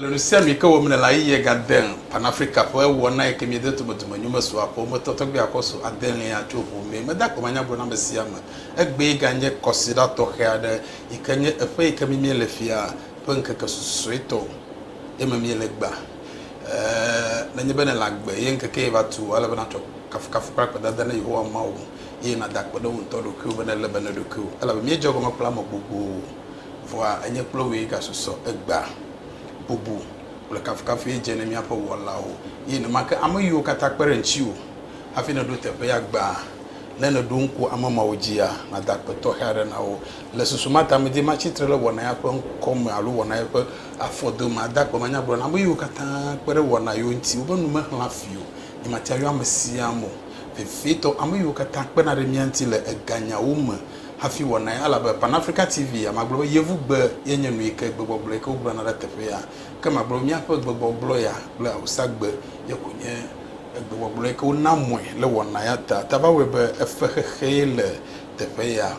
Le nu sia nu ke wɔm nèle ayiye gade Pan-Afrika ƒe wɔna yi ke miede tumetume nyumesɔakpɔ me tɔtɔ gbea kɔso adelia tso ŋu mee. Meda akpamanya gblɔ na ame sia ame. Egbee ganye kɔsiɖa tɔxɛ aɖe yi ke nye eƒe yi ke mi miele fia ƒe ŋkeke susuetɔ ye me miele egbea. Ɛɛ, nenye be nèle agbe ye ŋkeke ye va tu o, ele be nàtsɔ kafukafu kple akpedada na Yehowa Mawu eye nàda akpe ɖe wò ŋutɔ ɖokuiwò be nèlé be na ɖokuiwò elabe míedze egɔme kple ame gbogbo. Vɔa enye kple wòe gasusɔ egbea. Bubu kple kafukafue dze ne míaƒe Wɔlawo, eye nemake ame yiwo katã kpe ɖe ŋutiwò hafi nèɖo teƒe ya gbãa. Ne nèɖo ŋku ame mawo dzia, nàda akpe tɔxɛ aɖe na wo. Le susu ma ta medi matsi tre ɖe wɔna ya ƒe ŋkɔ me alo wɔna ya ƒe afɔdome ade akpe manyagblɔ na ame yiwo katã kpe ɖe wɔna yewo ŋuti wobe nu mexlã fi o. Nyematia yɔ ame sia ame o. Vevietɔ, ame yiwo katã kpena ɖe mía ŋuti le eganyawo me hafi wɔnae, elabe Pan Africa TV ya, magblɔ be Yevugbe ye nye nu yi ke gbegbɔgblɔ yi ke wogblɔna ɖe teƒe ya, ke magblɔ be míaƒe gbegbɔgblɔ ya kple Awusagbe ye ko nye gbegbɔgblɔ yi ke wona mɔe le wɔna ya ta. Ta va wɔe be efe xexe ye le teƒe ya.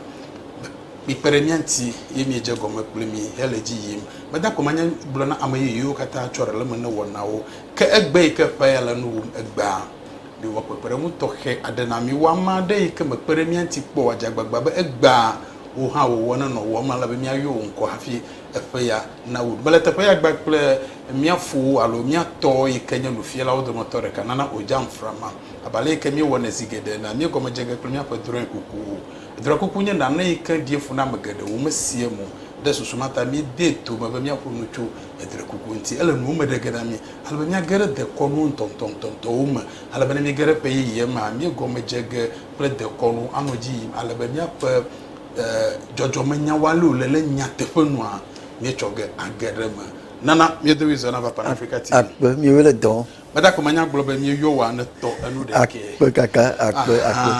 Mikpe ɖe mía ŋuti ye miedze egɔme kple mí hele edzi yim. Meda ko manya gblɔ na ame yeye yiwo katã tsɔ ɖe le eme ne wɔnawo, ke egbe yi ke ƒea ya le nu wum egbea, miwɔ kpekpeɖeŋu tɔxɛ aɖe na mí. Wɔ ame aɖe yi ke mekpe ɖe mía ŋuti kpɔ o adze agbagba be egbea wò hã wò wɔna nɔ wò wɔm ale be míayɔ wò ŋkɔ hafi eƒe ya nawu. Mele teƒe ya gbã kple mía fowo alo mía tɔ yi ke nye nufialawo dometɔ ɖeka nana o, Jamfra ma, abe ale yi ke míewɔnɛ zi geɖe enea, míegɔme dze ge kple míaƒe drɔ̃e kukuwo. Drɔ̃e kuku nye nane yi ke ɖie fu na ame geɖe, womesea emo ɖe susu ma ta míedee to me be míaƒo nu tso edrɔ̃e kuku ŋuti. Ele nuwo me ɖe ge na mí Ale be míage ɖe dekɔnu ŋutɔŋutɔwo me. Ale be ne míege ɖe ƒe yeyea mea, míegɔme dze ge kple dekɔnu anɔ edzi yim ale be míaƒe dzɔdzɔmenyawo ale wòle ɖe nyateƒe nua míetsɔ ge age ɖe eme. Nana míedo ɣli zɔ na va Pan Afrika TV. Akpe, míewoe le dɔ wɔm. Meda gɔme nya gblɔ be míeyɔ wòa ne tɔ enu ɖekɛ. Akpe kaka, akpe, akpe,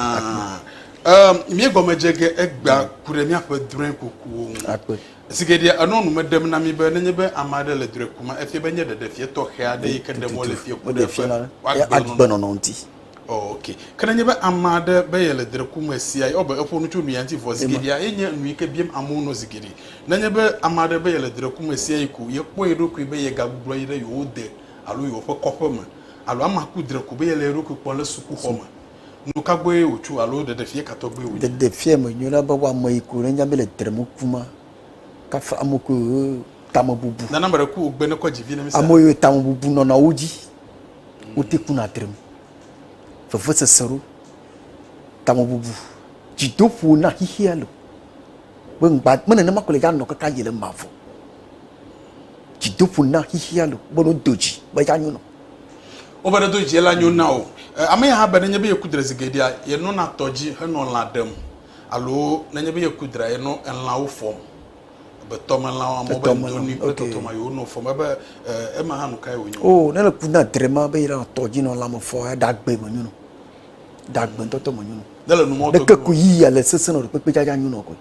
akpe. Míegɔme dze ge egbea ku ɖe míaƒe drɔ̃ekukuwo ŋu. Akpe. Zi geɖea enɔa nu me ɖem na mí be nenye be ame aɖe le drɔ̃e ko me, efia be nye ɖeɖefia tɔxɛ aɖee yi ke ɖem wole fiẽ ku ɖe eƒe agbenɔnɔ ŋuti. Ok. Ke nenye be ame aɖe be yele drɔ̃e ku me sia eye ebe eƒo nu tso nu ya ŋuti vɔ, zi geɖea enye nu yi ke biam amewo nɔ zi geɖe. Nenye be ame aɖe be yele drɔ̃e ku me sia eye ko yekpɔ ye ɖokui be yegagbugbɔ yi ɖe yewo de alo yewoƒe kɔƒe me alo amea ku drɔ̃e ko be yele ye ɖokui kpɔm le sukuxɔ me, Nu ka gbɔe wòtso alo ɖeɖefia ka tɔgbe wònye? Ɖeɖefia menyo na be woame yi ko nenya be le trem ku ma. Kafa ame ko yo tame bubu. Nana ame ɖe ku wògbe ne kɔ dzi vi ne misa. Ame yo tame bubu nɔna wo dzi. Wote ku na trem. Vevesese ɖo. Tame bubu. Dzidoƒo na xixia lo. Be ŋgba, me nenema ko le ya nɔ kaka yi le mavɔ. Dzidoƒo na xixia lo. Be no do dzi be ya nyo nɔ. Wobe ɖo do dzi la nyo na wò. Ame ya hã be nenye be yeku dre zi geɖea, yenɔna tɔ dzi henɔ lã ɖem alo nenye be yeku drea, yenɔ elãwo fɔm. Ebe tɔmelã wɔme wɔme be doni kple tɔtrɔma yi wonɔ fɔm. Ebe ema hã nu kae wonye? Oo, ne le ku na dre ma be yenɔ tɔ dzi nɔ lã me fɔ ɖe agbe me nyo nɔ. Ɖe agbe ŋutɔtɔ me nyo nɔ. Ne le nu mɔ tɔgbi me. Ɖeke ku yiya le sese nɔ ɖe kpekpe dza dza nyo nɔ koe.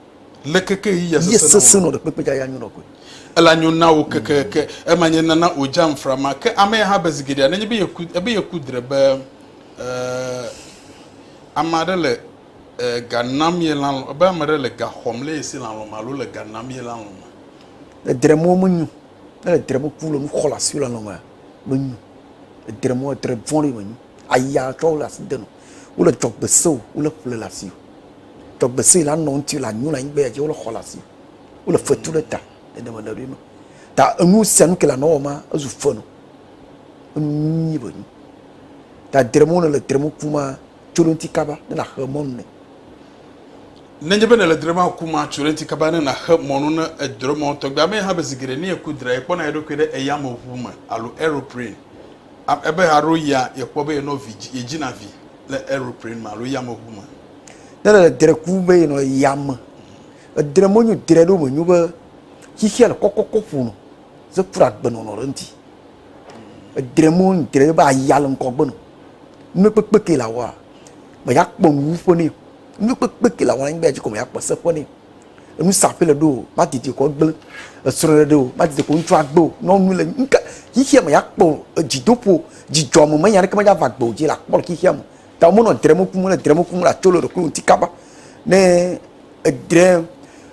Le keke yi ya sese sese no ɖekpekpe ja ya nyo nɔkoe. Ela nyo na wo keke ke ema nye nana o jam frama ke ame ya ha be zigedea nenye be ye ku ebe ye ku dre be eh ame aɖe le eh ga nam ye lan ebe ame aɖe le ga xɔm le ye si lan lɔme alo le ga nam ye lan lɔme. Le dre mo me nyo. Ne le dre mo ku le nu xɔ le asi lan lɔme me nyo. Le dre mo dre vɔn ɖe me nyo. Aya tsɔ wole asi de nu. Wole dzɔgbe se o, wole ƒle le asi o. Dzɔgbe se la nɔ ŋuti la nyu la anyigba ya dzi wole xɔ le asi o. Wole fetu ɖe ta le deme le ɖoe me. Ta enu sia nu ke la nɔ wɔma ezu fe nu. Enu nyuie be nyu. Ta dre mo ne le dre mo ku ma tso ɖe ŋuti kaba ne la xe mɔ nu ne. Nenye be ne le dre ma ku ma tso ɖe ŋuti kaba ne la xe mɔ nu ne edre mɔ tɔgbe ame hã be zi geɖe ne eku dre ekpɔna eɖokui ɖe eyameʋu me alo aeroplane. Am, ebe haɖo ya yekpɔ be yenɔ vi dzi, yedzina vi le aeroplane me alo yameŋu me. Ne le dre ku be yenɔ yame, edre menyo dre ɖo menyo be xixia le kɔkɔkɔ ƒonɔ ze kura agbenɔnɔ ɖe ŋuti. Edre mo nu dre be aya le ŋkɔ gbenɔ. Nukpekpe ke la wɔa, me ya kpɔ nuwu ƒe nɛ. Nukpekpe ke la wɔa, anyigba ya dzi kɔ me ya kpɔ se ƒe nɛ. enu sa ƒe le ɖo o ma didi kɔ gble esrɔ̃ ɖe ɖe o ma didi kɔ ŋutsu agbe o nyɔnu le ŋke xixia me ya kpɔ dzidoƒo dzidzɔ me me nya ɖeke me ya va gbe o dzi la kpɔ le xixia me ta mo nɔ dremo kum le dremo kum la tsolo ɖe klo ŋuti kaba ne edre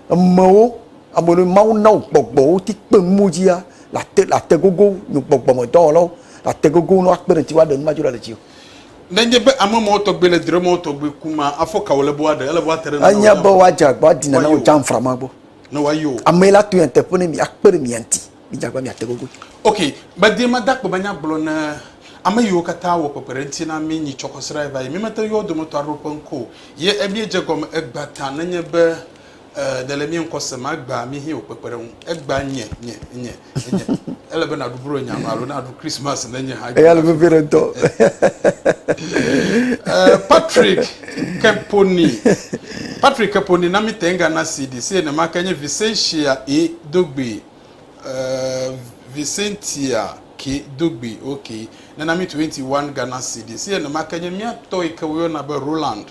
emewo ame ɖe mawu na wo gbɔgbɔ wo ti kpe mo dzi ya la te la te gogo nyo gbɔgbɔ me dɔwɔlawo la te gogo no akpe ɖe ti wa ɖe nu ma dzi le dzi o Ne nye be ame mɔwo tɔgbe le dre mɔwo tɔgbe ku ma, afɔ ka wòle be woaɖe? Ele be woate ɖe nane Enye be woadze agba woadina na wò jamfra ma gbɔ. Ne woayo. Amee la to nyateƒe ne mi, akpe ɖe mia ŋuti. Midze agba miate gogoe. Ok, medi made akpe be nya gblɔ ne ame yiwo katã wɔ kpekpeɖeŋuti na mi nyi tsɔkɔsrae va yi. Mímete ŋu yɔ wo dometɔ aɖewo ƒe ŋkɔ o. Ye emíedze egɔme egbea ta nenye be E, nèle mía ŋkɔ sem, agbea mí hẽ wò kpekpeɖeŋu. Egbea nye, nye, nye, nye. Ele be nàɖu bro nya me alo nàɖu Christmas ne nye hã. Eya le vevie ɖe ŋutɔ. E, Patrick Keponi. Patrick Keponi na mí Tenga na CD. Si enema ke nye Vicentia E. Dogbe. E, Vicentia Ke Dogbe, ok. Nena mí 21 Ghana CD. Si enema ke nye mía tɔ yi ke woyɔna be Roland.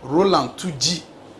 Roland Tudzi.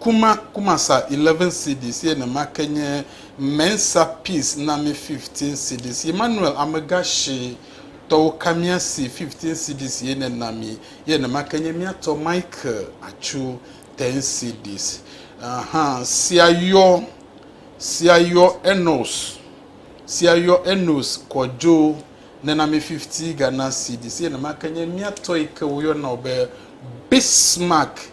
Kuma Kumasa eleven cedis ye nema ke nye Mensa Peace na mi fifteen cedis Emmanuel Amega Shi tɔwo Kamiasi fifteen cedis ye ne na mi ye nema ke nye mía tɔ Michael Atsu ten cedis Aha sia yɔ sia yɔ Enos sia yɔ Enos Kojo ne na mi fifty Ghana cedis ye nema ke nye mía tɔ yi ke wo yɔ na wo be Bismarck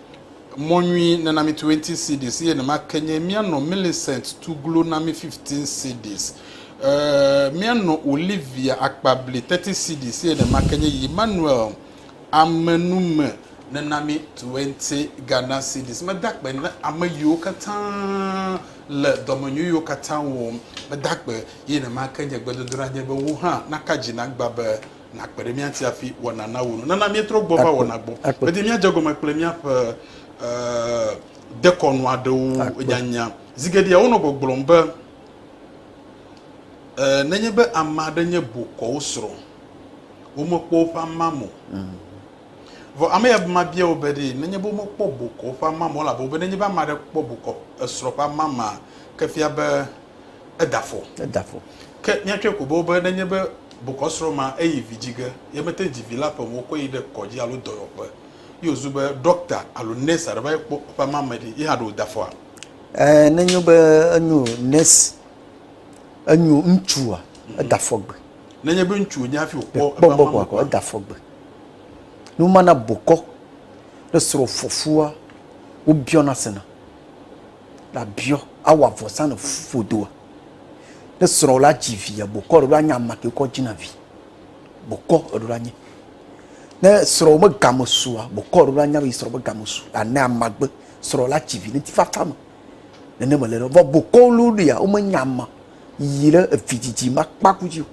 Mɔ nyui nena mi 20 cedis eye nema ke nye mianɔ Millicent tu glo na mi 15 cedis. Eee, mianɔ Olivia akpa bli 30 cedis eye nema ke nye Emmanuel amenume nena mi 20 Ghana cedis. Meda akpe na ame yiwo katã le dɔmenyui yiwo katã wɔm. Meda akpe eye nema ke nye gbedodoɖa nye be wò hã naka dzi nagbã be nakpe ɖe mía ŋuti hafi wɔna nawu nu. Nana míetrɔ gbɔ va wɔna gbɔ. Medi míadze egɔme kple míaƒe dekɔnu aɖewo nyanya. Zigeɖea wonɔ gbɔgblɔm be nenye be ame aɖe nye bokɔwo srɔ̃, womekpɔ woƒe amam o. Mm. Vɔ ame ya ma bia wo be ɖe nenye be womekpɔ bokɔ ƒe amama o elabe wobe nenye be ame aɖe kpɔ bokɔ esrɔ̃ ƒe amama ke fia be eda afɔ. Eda afɔ. Ke míatsɔe ko boŋ be nenye be bokɔsrɔ̃ ma eyi vi dzi ge, ye mete ŋu dzi vi la ƒe me wokɔe yi ɖe kɔdzi alo dɔyɔƒe ye wòzu be ɖɔkta alo nɛsi aɖe va yi kpɔ eƒe amame ɖi, ye hã ɖe wòda afɔa? Ẽ, ne enyo be enyo nɛsi, enyo ŋutsua, mhm. eda afɔ gbe. Nenye be ŋutsu wònye hafi wòkpɔ eƒe amame kpɔ gbɔ, eda afɔ gbe. Ne womana bokɔ ne srɔ̃fɔfua, wobiɔna sena. Labiɔ, awɔ avɔsa ne fodoa. Ne srɔ̃ la dzi via, bokɔ ɖe la nye ame ke kɔ dzina vi. Bokɔ ɖe la nye. Ne srɔ̃ me game sua, bokɔ ɖe la nya be srɔ̃ me game su. Ane amagbe srɔ̃ la dzi vi ne ti fafa me. Ne ne me le vɔ bokɔ lu ɖia, wo me nya ma. Yi le evi dzidzi ma kpa ku dzi.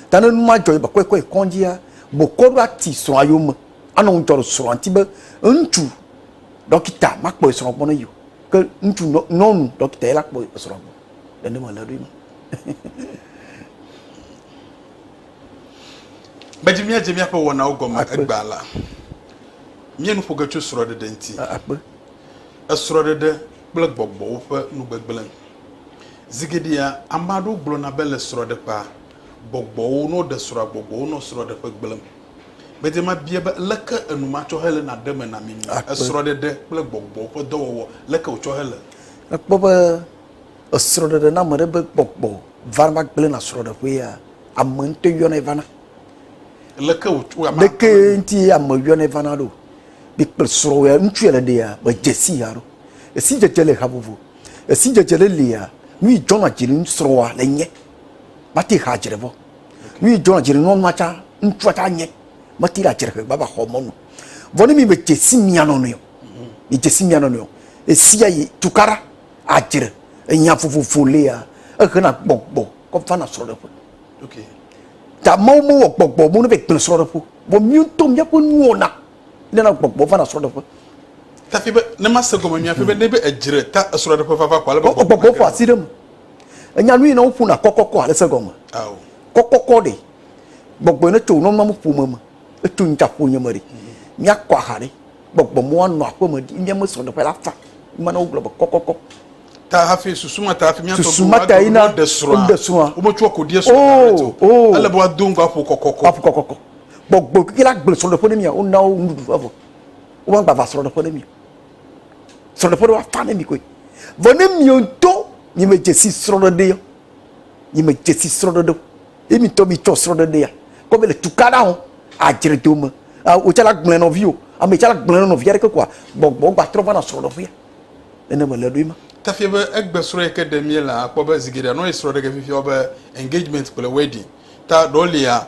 Ta ne numa jɔ ba kɔe kɔe kɔnjia, bokɔ ɖe ati srɔ̃ yo me. Ano ŋjɔ srɔ̃ anti be ŋtsu dɔkita ma kpɔe srɔ̃ gbɔ ne yo. ke ŋutsu nɔ nyɔnu dɔkita ye la kpɔ esrɔ̃a gbɔ le ne mele ɖoe ma medzi míadze míaƒe wɔnawo gɔme egbea la míe nu ƒo ge tso srɔ̃ɖeɖe ŋuti akpe esrɔ̃ɖeɖe kple gbɔgbɔwo ƒe nugbegblẽ zi geɖea ame aɖewo gblɔna be le srɔ̃ɖeƒea gbɔgbɔwo ne woɖe srɔ̃a gbɔgbɔwo nɔ srɔ̃ɖeƒe gblẽm Gbede mabia be, Leke enumatsɔhele na ɖe eme na mi le esrɔ̃ɖeɖe kple gbɔgbɔ ƒe dɔwɔwɔ? Leke wòtsɔ hele? Èkpɔ be esrɔ̃ɖeɖe na ame ɖe be gbɔgbɔ vana va gblẽna srɔ̃ɖeƒea? Ame ŋutɔe yɔnɛ vana. Leke wòtsɔ ame Leke ŋuti ame yɔnɛ vana ɖo? Mi kple srɔ̃wòa, ŋutsua le ɖea, medze sii haɖo. Esi dzedze le ha vovo. Esi dzedze le lia, nu yi dzɔna dzi ŋu srɔ̃wòa le nye. Mate ha dzre vɔ. Nyui dzɔna dzi nɔ nua tsã, ŋutsua tsã nye. Meti ɖe adzrehe vava xɔ mɔnu. Vɔ ne mi me dze si mia nɔ nɔe o, mi dze si mia nɔ nɔe o, esia yi tukaɖa adzre enya vovovo lea, ehena gbɔgbɔ kɔ vana srɔɖeƒe. Ok. Ta Mawu me wɔ gbɔgbɔ mo ne be gble srɔɖeƒe. Vɔ mia ŋutɔ mia ƒe nuwo na nana gbɔgbɔ vana srɔɖeƒe. Tafi be ne ma se gɔme mia ƒe be ne be edzre ta esrɔɖeƒe vava kɔ ale be gbɔgbɔ. Gbɔgbɔ ƒo asi ɖe me. Enya nu yi ne woƒona kɔkɔkɔ ale se gɔme. Ao. Kɔkɔkɔ ɖe. Gbɔgbɔ ne tso nɔnɔ mu ƒome me. Eto ŋta ƒo nye me ɖe. Mia kɔ aha ɖe. Gbɔgbɔ mo wa nɔ aƒe me ɖi. Nye me sɔ ɖe ƒe la fa. Ma ne wo gblɔ be kɔkɔkɔ. Ta hafi susu ma ta hafi mia tɔ go. Susu ma ta yi na. Ɖe srɔa. Ɖe srɔa. Wo me tso ko die srɔa. Oh, oh. Ele bo a do ŋgɔ ƒo kɔkɔkɔ. Wa ƒo kɔkɔkɔ. Gbɔgbɔ kike la gble srɔ ɖe ƒe ne mia. Wo na wo ŋuɖuɖu va vɔ. Wo ma gba va srɔ ɖe ƒe ne mia. srɔɖeƒe ɖo afa ne mi koe vɔ ne miwo ŋtɔ mi me dzesi srɔɖeɖe yɔ mi me dzesi srɔɖeɖe o ye mi ŋtɔ mi tsɔ srɔɖeɖe ya kɔ be le tukaɖa hɔn adzre do me o tsala gblẽ nɔvi o ame tsala gblẽ nɔ nɔvi aɖeke koa gbɔgbɔ gbatrɔ va na srɔɖeƒea nene me le ɖoe ma. Tafia be egbe srɔ yike ɖe mie la akpɔ be zigeɖea nɔ yi srɔɖege fifia be engagement kple wedding ta ɖɔ lia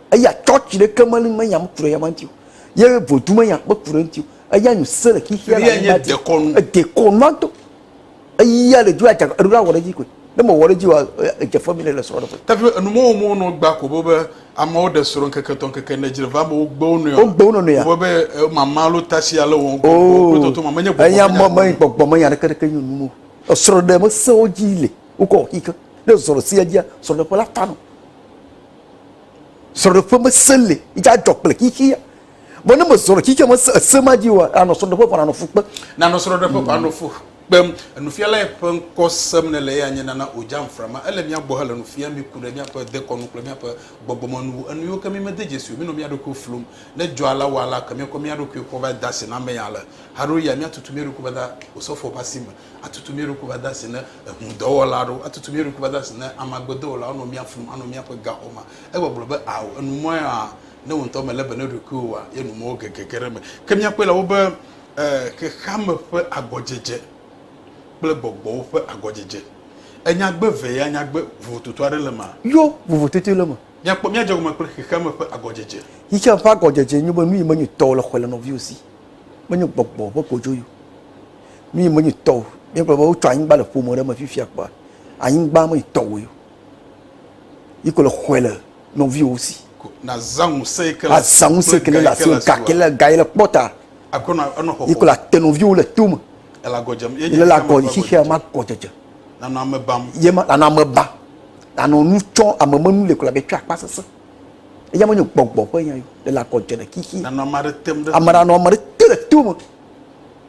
Eya church ɖeke me li menya ŋku ɖe eyama ŋuti o. Ye vodu menya kpe ku ɖe eŋuti o. Eya nyu se le xexea le anyigba dzi. Dekɔnu. Dekɔnua do. Eya le dzi adza eɖo la wɔ ɖe edzi koe. Ne me wɔ ɖe edzi wa edze fe mi ne le srɔ̃ ɖe ƒe. Tapi be enu mɔwo mɔwo nɔ gba ko be be amewo ɖe srɔ̃ ŋkeke tɔ ŋkeke ne dzi le va amewo gbe wo nɔe. Wo gbe wo nɔ nɔe. Wo be be mama lo tasi ale wɔ ŋkɔ ŋkɔ kple tɔtɔ ma menye gbɔgbɔ menya. Eya mɔ me gbɔgbɔ menya ɖeke ɖeke nyu nu mo. Esrɔ̃ ɖe me se wo dzi le wo kɔ xixewo. Ne zɔrɔ sia dzia srɔ̃ ɖe ƒe la ta nɔ. Srɔ̃ɖeƒe mesẽ li, yi dza dzɔ kple xexea. Vɔ ne mezɔ ɖe xexea me se ese ma dzi oa, anɔ srɔ̃ɖeƒe ko anɔ fu kpe. Nanɔ srɔ̃ɖeƒe ko anɔ fu kpem. Nufiala ye ƒe ŋkɔ sem nele eye anye nana o dza nframa. Ele mía gbɔ hele nu fiam mí ku ɖe míaƒe dekɔnu kple míaƒe gbɔgbɔmenuwo, enu yiwo ke mí mede dzesi o. Mínɔ mía ɖokuiwo flum. Ne dzɔa la wɔa la, ke míakɔ mía ɖokuiwo kpɔ va da asi na ame ya le. Haɖewoɣia míatutu mía ɖokuiwo va da osɔfoa ƒe asi me. atutu mía ɖokui va de asi na eŋudɔwɔla aɖewo, atutu mía ɖokui va de asi na ame agbedɔwɔlawo anɔ mía flum, anɔ míaƒe gaxɔ me. Egbɔgblɔ be, Ao, ènu mɔ ya? Ne wò ŋutɔ mèlé be na ɖokuiwòa, ye nu mɔwo gegege ɖe eme. Ke míakpɔe le wobe xexeame ƒe agɔdzedze kple gbɔgbɔwo ƒe agɔdzedze. Enyagbe vee ya nyagbe vovototo aɖe le emea? Yo, vovototoe le eme. Míakpɔ, míadze egɔme kple xexeame ƒe agɔdzedze. Xexeame ƒe agɔdzedze nye be nu yi menyo tɔwò le xɔe le nɔviwò si. Menyo gbɔgbɔ ƒe kodzo yi o. Nuyi menye tɔ o. Míegblɔ be wotsɔ anyigba le ƒome ɖe me fifia kpɔa, anyigba menye tɔwòe o. Yi ke le xɔe le nɔviwò si. Nazã ŋusẽ yi ke le asi. Azã ŋusẽ yi ke le asi. Gake le ga yi le kpɔ ta. Yi ke le ate nɔviwò le to me. Ele agɔ dzem. Ele le agɔ xexea me agɔ dzedze. Nanɔ ame bam. Ye ma nanɔ ame bam. Nanɔ nu tsɔ ame me nu li kura be tsɔ akpa sese. Eya menye gbɔgbɔ ƒe nya o. Ele agɔ dze le xexi. Nanɔ ame aɖe tem ɖe. Ame nanɔ ame aɖe te le to me.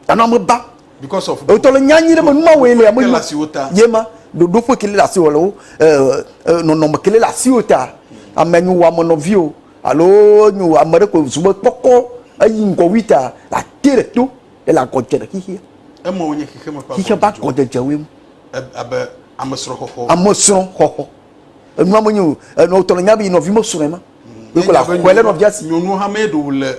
Ana me ba. Because of. Eto le nya nyi ɖe me numa wele ame numa. Ye ma ɖoɖo ƒe kele le asi wole wo nɔnɔme kele le asi wo ta. Ame nyi wo ame nɔvi o alo nyi wo ame ɖe ko zu be kpɔkɔ eyi ŋgɔ wi ta la te le to ele agɔ dze le xixia. Eme wo nye xixia me ƒe agɔ. Xixia ba agɔ dze dze wo ŋu. Abe ame srɔ̃ xɔxɔ. Ame srɔ̃ xɔxɔ. Enua me nyi o. Enɔ tɔ le nya be nɔvi me srɔ̃ ma. Ye ko la xɔe le nɔvia si. Nyɔnu hame ɖo le.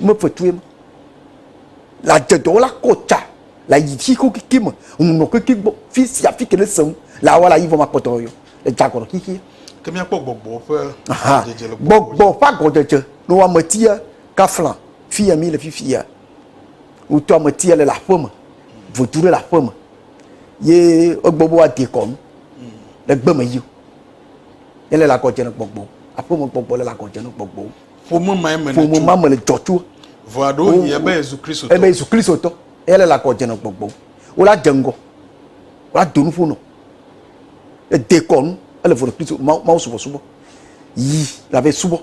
me fetue ma le adzedɔwɔ la kɔ tsa le ayi tsi ko keke me ŋunɔ keke gbɔ fi sia fi ke ne se ŋu le awɔ le ayi vɔ ma kpɔtɔ yɔ le dzagɔrɔ xixi. Ke mi akpɔ gbɔgbɔ ƒe agɔdzedze le gbɔgbɔ. Gbɔgbɔ ƒe agɔdzedze no ame tia kafla fi ya mi le fifi ya. Wotɔ ame tia le le aƒe me votu ɖe le aƒe me ye egbɔ bo adi kɔnu le gbe me yi. Ele le agɔdze ne gbɔgbɔ aƒe me gbɔgbɔ le le agɔdze ne gbɔgbɔ. Ƒome ma me Ƒome ma me le dzɔ tso. Vɔa ɖo yi ebe Yesu Kristo tɔ. Ebe Yesu Kristo tɔ. Eya le lakɔ dze nɔ gbɔgbɔ. Wo la dze ŋgɔ. Wo la do nu ƒo nɔ. Ede kɔ nu. Ele vɔ nɔ Kristo. Ma ma wo subɔ subɔ. Yi la ve subɔ.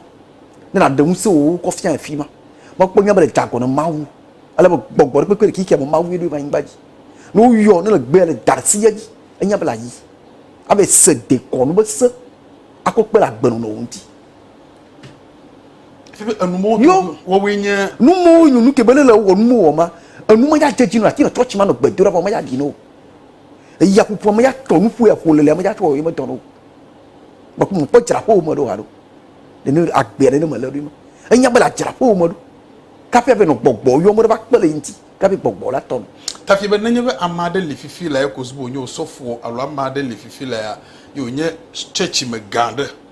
Ne na ɖe ŋuse wo kɔ fia efi ma. Ma kpɔ nya be le dza gɔ nɔ ma wu. Ale be gbɔgbɔ ɖe kpekpe le kiki ame ma wu eɖo va yi ŋgba dzi. Ne wo yɔ ne le gbe le da si ya dzi. Enya be la yi. Ave se de kɔ nu be se. Akɔ kpe la gbe nɔ nɔ wo ŋti. yo numo yo nu kebe ne le wɔ numo wɔ ma enu ma ya dzedzi no ati na tsɔtsi ma nɔ gbedo ɖa ma ya di no eya ƒuƒu ma ya tɔ nuƒu ya ƒo lele ma ya tɔ yi me tɔ no ma ko mo kpɔ dzra ƒo me do ha do ne ne agbe ne ne me le do ma enya bela dzra ƒo me do kafi abe no gbɔgbɔ yo mo ba kpele inti kafi gbɔgbɔ la tɔ no kafi be nenye be ama de le fifi la ya ko zubo nyo sɔfo alo ama de le fifi la ya yo nye tsɔtsi me gan de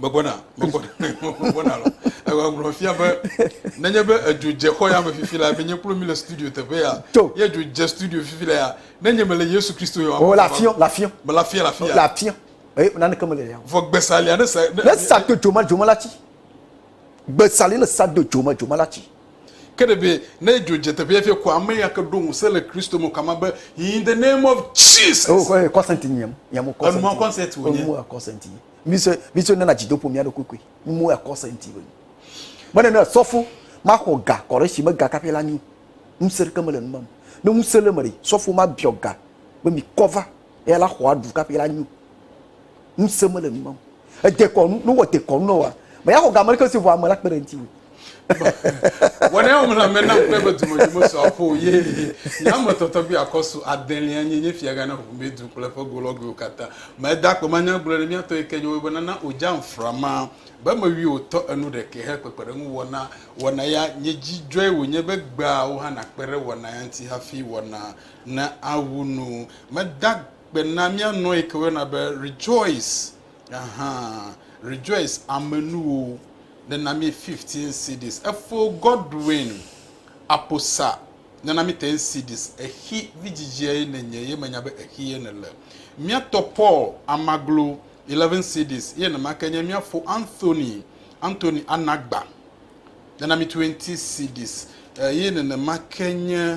Megbɔna, megbɔna, megbɔna lɔ. Egblɔ fia be nenye be edzo dze xɔ ya me fifi la, menye kplo mi le studio teƒe ya. To. Ye edzo dze studio fifi la ya. Nenye mele Yesu Kristo ya. O la fiɔ, la fiɔ. Me la fiɔ, la fiɔ. La fiɔ. Eye eh, naneke mele ya. Vɔ gbesa lia ne sa. Ne sa do dzoma dzoma la tsi. Gbesa lia ne sa do dzoma dzoma la tsi. Ke ɖeɖe ne dzo dze teƒe hafi ko ame ya ke ɖo ŋusẽ le Kristo me kama be in the name of Jesus. Oh, kɔ consent nyem, nyem kɔ consent. Enu consent wo nye. Enu consent. Miso miso nana dzidopo mia ɖo kukui. Mu consent wo. Mene ne sɔfo ma xɔ ga kɔ ɖe si me ga kafe la nyu. Ŋusẽ ɖeke mele numam. Ne ŋusẽ le me ɖi, sɔfo ma biɔ ga be mi kɔva Eya la xɔa du kaƒi la nyo. Ŋusẽ mele nu mam. Edekɔnu, ne wowɔ dekɔnu na wòa, mèaxɔ ga ameɖeke si ŋu ame la kpe ɖe ŋutiwò. Wɔnɛ wòm la me nam kpɔe be dumedu mesu aƒo o. Ye nye ame tɔtɔgbi akɔsu adelia nye nye fiagã na ʋumedu kple eƒe golɔgoewo katã. Meda akpe manyagblɔe ɖe mía tɔ yi ke nye woyɔbena na Ojang Frama be mewui wò tɔ enu ɖekɛ he kpekpeɖeŋu wɔna wɔna ya. Nye dzi dzɔe wònye be gbea wò hã nàkpe ɖe wɔna ya ŋuti hafi wɔna Na awu nu. Meda gbe na mía nɔ yi ke woyɔna be Rejoice, aha, Rejoice amenuwo nena mí 15 cedis. Efo Godwin Aposa nena mí 10 cedis. Exi vidzidzia ye nènye ye menya be exi ye nèle. Mía tɔ Paul Amaglo 11 cedis eye nemake nye mía fo Anthony, Anthony Anagba nena mí 20 cedis eye nenemake nye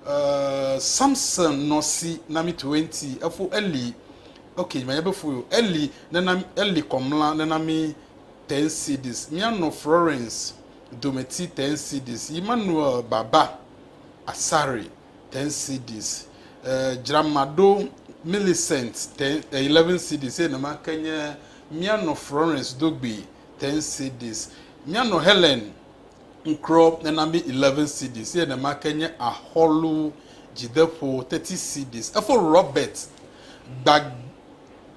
Eh, Samson nɔ si na mi to enti efo Eli. Ok, ma yebe fo yo. Eli nena Eli kɔmla nena mi ten cedis. Mia nɔ Florence dometi ten cedis. Emmanuel baba asari ten cedis. Eh, Dramado Millicent ten eh, 11 cedis. Eye nema ke nye mia nɔ Florence dogbi ten cedis. Mia nɔ Helen Ŋkrɔ nena mi eleven cedis eye nemake nye axɔlu dzideƒo thirty cedis. Efo Robert gba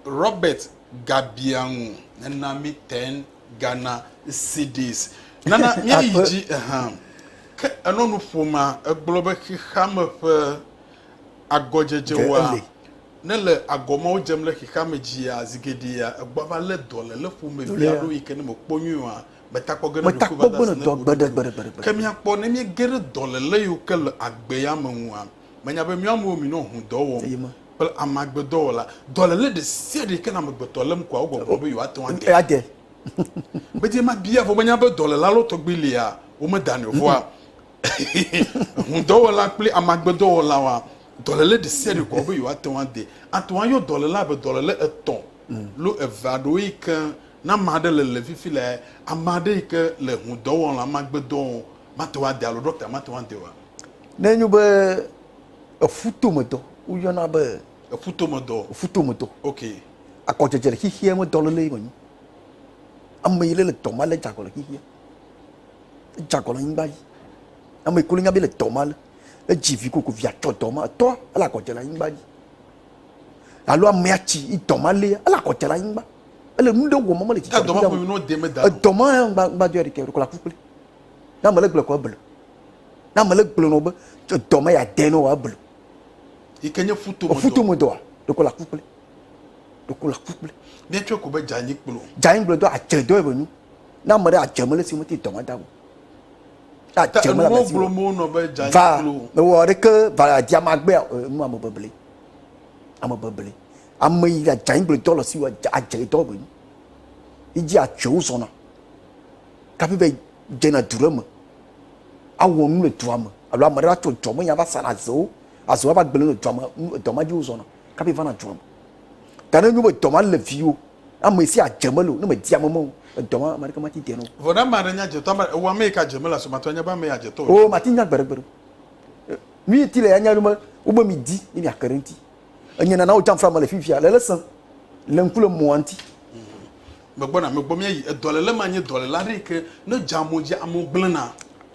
Robert gabiaŋu nena mi ten Ghana cedis. Nana míayi Akpe. dzi ehã. Ke enɔ nu ƒoma egblɔ be xexeame ƒe agɔdzedze Ge woa eli. nele agɔ mawo dze mle xexeame dzia zi geɖea egbɔava lé dɔ le le ƒomevi Ɖolia. alo yi ke ne mekpɔ nyuie oa Meta kpɔ ge ne dɔ gbe ɖe gbe ɖe gbe ɖe gbe. Ke mia kpɔ ne mie ge ɖe dɔ le le yiwo ke le agbe ya me ŋua? Me nya be mia me wo mi nɔ ŋu dɔ wɔm kple ame agbe dɔ wɔla. Dɔ le le ɖe sia ɖe yike le amegbetɔ lem kɔa wo gbɔ gblɔ be yewo ate ŋu ade. Ade. Me dze ma bia vɔ me nya be dɔ le la lo tɔgbi lia wo me da nɛ vɔa ŋu dɔ wɔla kple ame agbe dɔ wɔla wa dɔ le le ɖe sia ɖe kɔa wo be yewo ate ŋu ade. Ate ŋu ayɔ dɔ le la be dɔ le le etɔ lo eve aɖewo yike Ne ame aɖe le le fifi le ame aɖe yi ke le ŋu dɔ wɔm le ame agbe dɔ wɔm mate ŋu ade alo ɖɔkta mate ŋu ade oa? Ne enyo be eƒu to me dɔ woyɔna be. Eƒu to me dɔ. Eƒu to me dɔ. Ok. Akɔ dzedze le xixia me dɔ lele yi me nyi. Ame yi le le dɔ ma le dzagɔ le xixia. Edzagɔ le nyigba yi. Ame yi ko le nya be le dɔ ma le. Edzi vi koko via tsɔ dɔ ma etɔ ele akɔ dze le anyigba yi. alo amea tsi yi dɔ ma lé ele akɔ dze le anyigba ele nu ɖe wɔm mele tsitsi edɔ ma ƒo nu de me da edɔ ma ya ŋgba ŋgba dɔ ya ɖeke ɖeko la ku kple na mele gblɔ kɔ ebele na mele gblɔ nɔ be edɔ ma ya de nɔ wa ebele yi ke nye futo me dɔ futo me dɔ wa ɖeko la ku kple ɖeko la ku kple ne tsɔ ko be dzanyi kplɔ dzanyi kplɔ dɔ adzre dɔ ebe nu na mele adzre mele si mete dɔ ma da o Ah, Te dze mele ame enuwo si wɔ. gblom wonɔ be dza Va, nyi klo. mewɔ aɖeke va dzi ame agbea o. Eh, Nu ame bebli. Ame bebli. Ame yi la dza nyi gblɔ dɔ le si wɔ dza adze dɔ gbe nyi. Idzi atsoe wozɔna. Kafi va dzena du ɖe me. Awɔ nu le dua me. Alo ame ɖe va tsɔ dɔ me ya va sana zewo. Aze wa va gblẽ le dua me. Nu- Dɔ ma dzi wozɔna. Kafi vana dua me. Ta ne enyo be dɔ ma le viwo. Ame sia dze mele o ne medi ame me o. Edɔ ma, ame aɖeke mati dea nu o. Vɔ ne ame aɖe nye adzetɔ, ame ewɔ ame yi ke adze mele asomatu anya be ame ye adzetɔ o. O, mati nya gbeɖegbeɖe o. Nu yi ti le ya nya be wobe midi ne miake ɖe ŋuti. Enye nana wodzam fla mele fifia le le sẽ le ŋku le mɔa ŋuti. Megbɔna, megbɔ mía yi. Edɔlele ma nye dɔlele aɖe yi ke ne dze amo dzi, amewo gblẽna.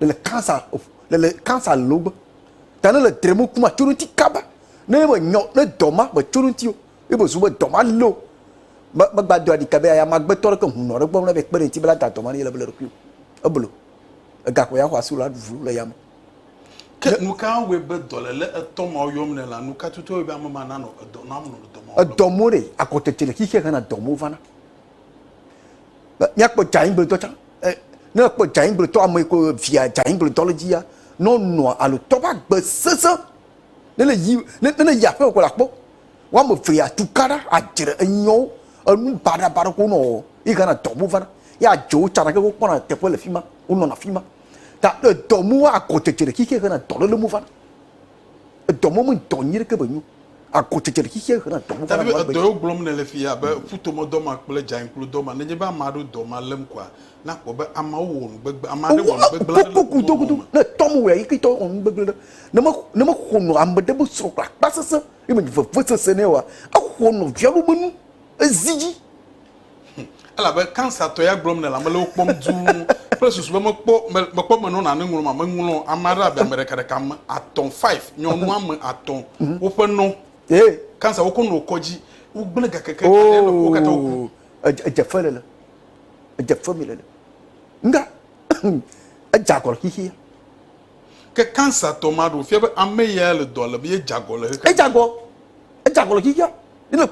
le le cancer le le cancer lo gbɔ ta ne le dre mo kuma tso ŋuti kaba ne be nyɔ ne dɔ ma be tso ŋuti o ne be zu be dɔ ma lo me megba do aɖika be aya magbetɔ ɖe ke ŋu nɔ ɖe gbɔ ne be kpe ɖe ŋuti be la da dɔ ma ne yele be le ɖokui o eblo egakpo ya xɔ asi la ɖu le yame ke nu ka wɔe be dɔlele etɔ ma yɔm ne la nu ka tutu wɔe be ame ma nanɔ edɔ nam nɔ dɔ ma edɔ mo ɖe akɔtete le xixia hena dɔ mo vana míakpɔ dzaɛgblẽdɔ tsã e ne ekpɔ dzaɛgblẽdɔ ame yi ke via dzaɛgblẽdɔ le dzia ne wonɔa alo tɔ ƒe agbe sesẽ ne ne yi ne ne yi aƒeme ko la kpɔ woame eve ya tuka ɖa adzre enyɔwo enu baɖabaɖa ko nɔ yi gana dɔ mo vana ye adze wo tsã ɖa ke wokpɔna teƒe le fi ma wonɔna fi ma ta le dɔ mo agɔ dzedze ɖe xixi hena dɔléle mo vana. Edɔ mɔ me dɔ nyuie ɖeke me nyo. Agɔ dzedze le xixeɛ he na dɔ mɔ va na nu agbe. Edɔ yio gblɔm ne le fi abe ƒutomɔ dɔ ma kple dzayinkplu dɔ ma. Nenye be ame aɖewo dɔ ma lém koa, na kpɔ be ameawo wɔ nu gbegblẽ. Ame aɖe wɔ nu gbegblẽ aɖe le wò nɔnɔ me. Ne etɔ me wɔe yike tɔ wɔ nu gbegblẽ ɖe, ne me ne me xɔ nɔ ame ɖe be srɔ̃ kple akpa sese ye me nyi vevesese nɛ oa, exɔ nɔvia ɖe be nu ezi dzi Elabe kansa tɔ ya gblɔm nèle, ame le wò kpɔm dũu kple susu be mekpɔ, me, mekpɔ menɔ nane ŋlɔm a, meŋlɔ ame aɖe abe ame ɖeka ɖeka, ame atɔ̃, five, nyɔnu ame atɔ̃, mhm. woƒe nɔ. Ye. Kansa wokɔ nɔ kɔdzi, wogblẽ gakeke, oh. ale nɔ wo katã woku. Edze fe lele, edze fe mi lele. Nga, edze agɔle xixia. Ke cancer tɔ ma ɖo fia be ame ya le dɔ lem ye dza gɔ le xexea me. Edza gɔ, edza gɔ le xexea me. Ne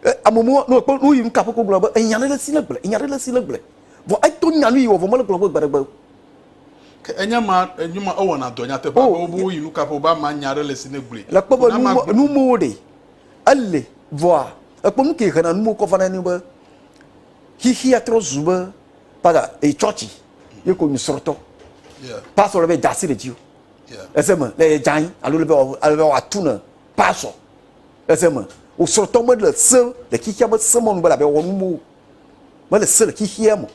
e ame mɔ ne ekpɔ nu yi ŋka ƒe kpɔgblɔ be enya ɖe le si le gble, enya ɖe le si le gble. Vɔ eto nya nu yi wɔ vɔ mele gblɔ be gbe ɖe gbe. Ke enya ma enyo ma ewɔna dɔ nyateƒe abe wobe woyi nu ka ƒe wobe ama nya ɖe le si ne gble. Le kpɔ be nu mɔ nu mɔwo ɖe ele vɔa ekpɔ nu ke hena nu mɔwo kɔ va na ne be xexea trɔ zu be paga e chɔchi ye ko nusrɔ̃tɔ pasɔ le be da asi ɖe dzi o ese me le yedza anyi alo le be ale be wòatu ne pasɔ ese me wosrɔ̃tɔ mele se le xixia me se mɔnu be labe wɔ nu mo mele se le xixia me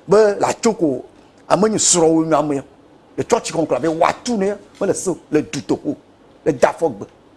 be le atso ko ame nyi srɔ̃ wo nyɔ ame le tsɔtsi kɔnkɔ labe wòatu ne mele se le dutoƒo le dafɔgbe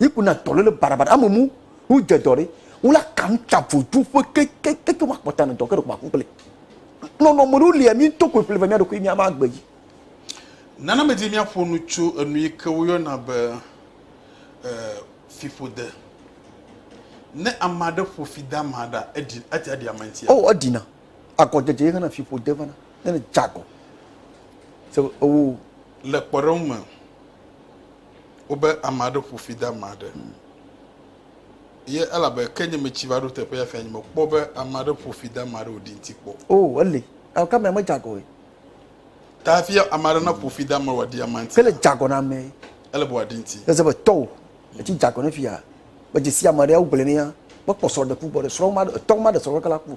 yiku na dɔ lele barabara ame mu hu dze dɔ ɖe wo la kan ta vodu ƒe kekekeke wa kpɔta ne dɔ ke ɖe kuma kukle nɔnɔ me ɖo lia mi to ko ƒle ve mi aɖo ko mi ama agbe yi nana me di mi aƒo nu tso enu yi ke wo yɔna be e fiƒode ne ame aɖe ƒo fi da ma da edi ati adi ame ntia o edina agɔ dede ye kana fiƒode vana ne ne jago se o le kpɔɖeŋu me Wobe ame aɖe ƒo fi de ame aɖe ye elabe ke nye metsi va ɖo teƒe ya fia nye mekpɔ be ame aɖe ƒo fi de ame aɖe wòɖi ŋuti kpɔ. O, eli. Eo ke amea medze agɔ ye. Ta hafi ame aɖe naƒo fi de ame wòaɖi amea ŋuti. Ke le dze agɔ na amee. Ele be wòaɖi ŋuti. Eze be tɔ o. Etsi dze agɔ ne fia. Medze si ame aɖe ya wogblɔe nɛ ya. Mekpɔ srɔ̃ɖeƒu gbɔ ɖe. Srɔ̃ ma, etɔ ma ɖe srɔ̃ keke la ku.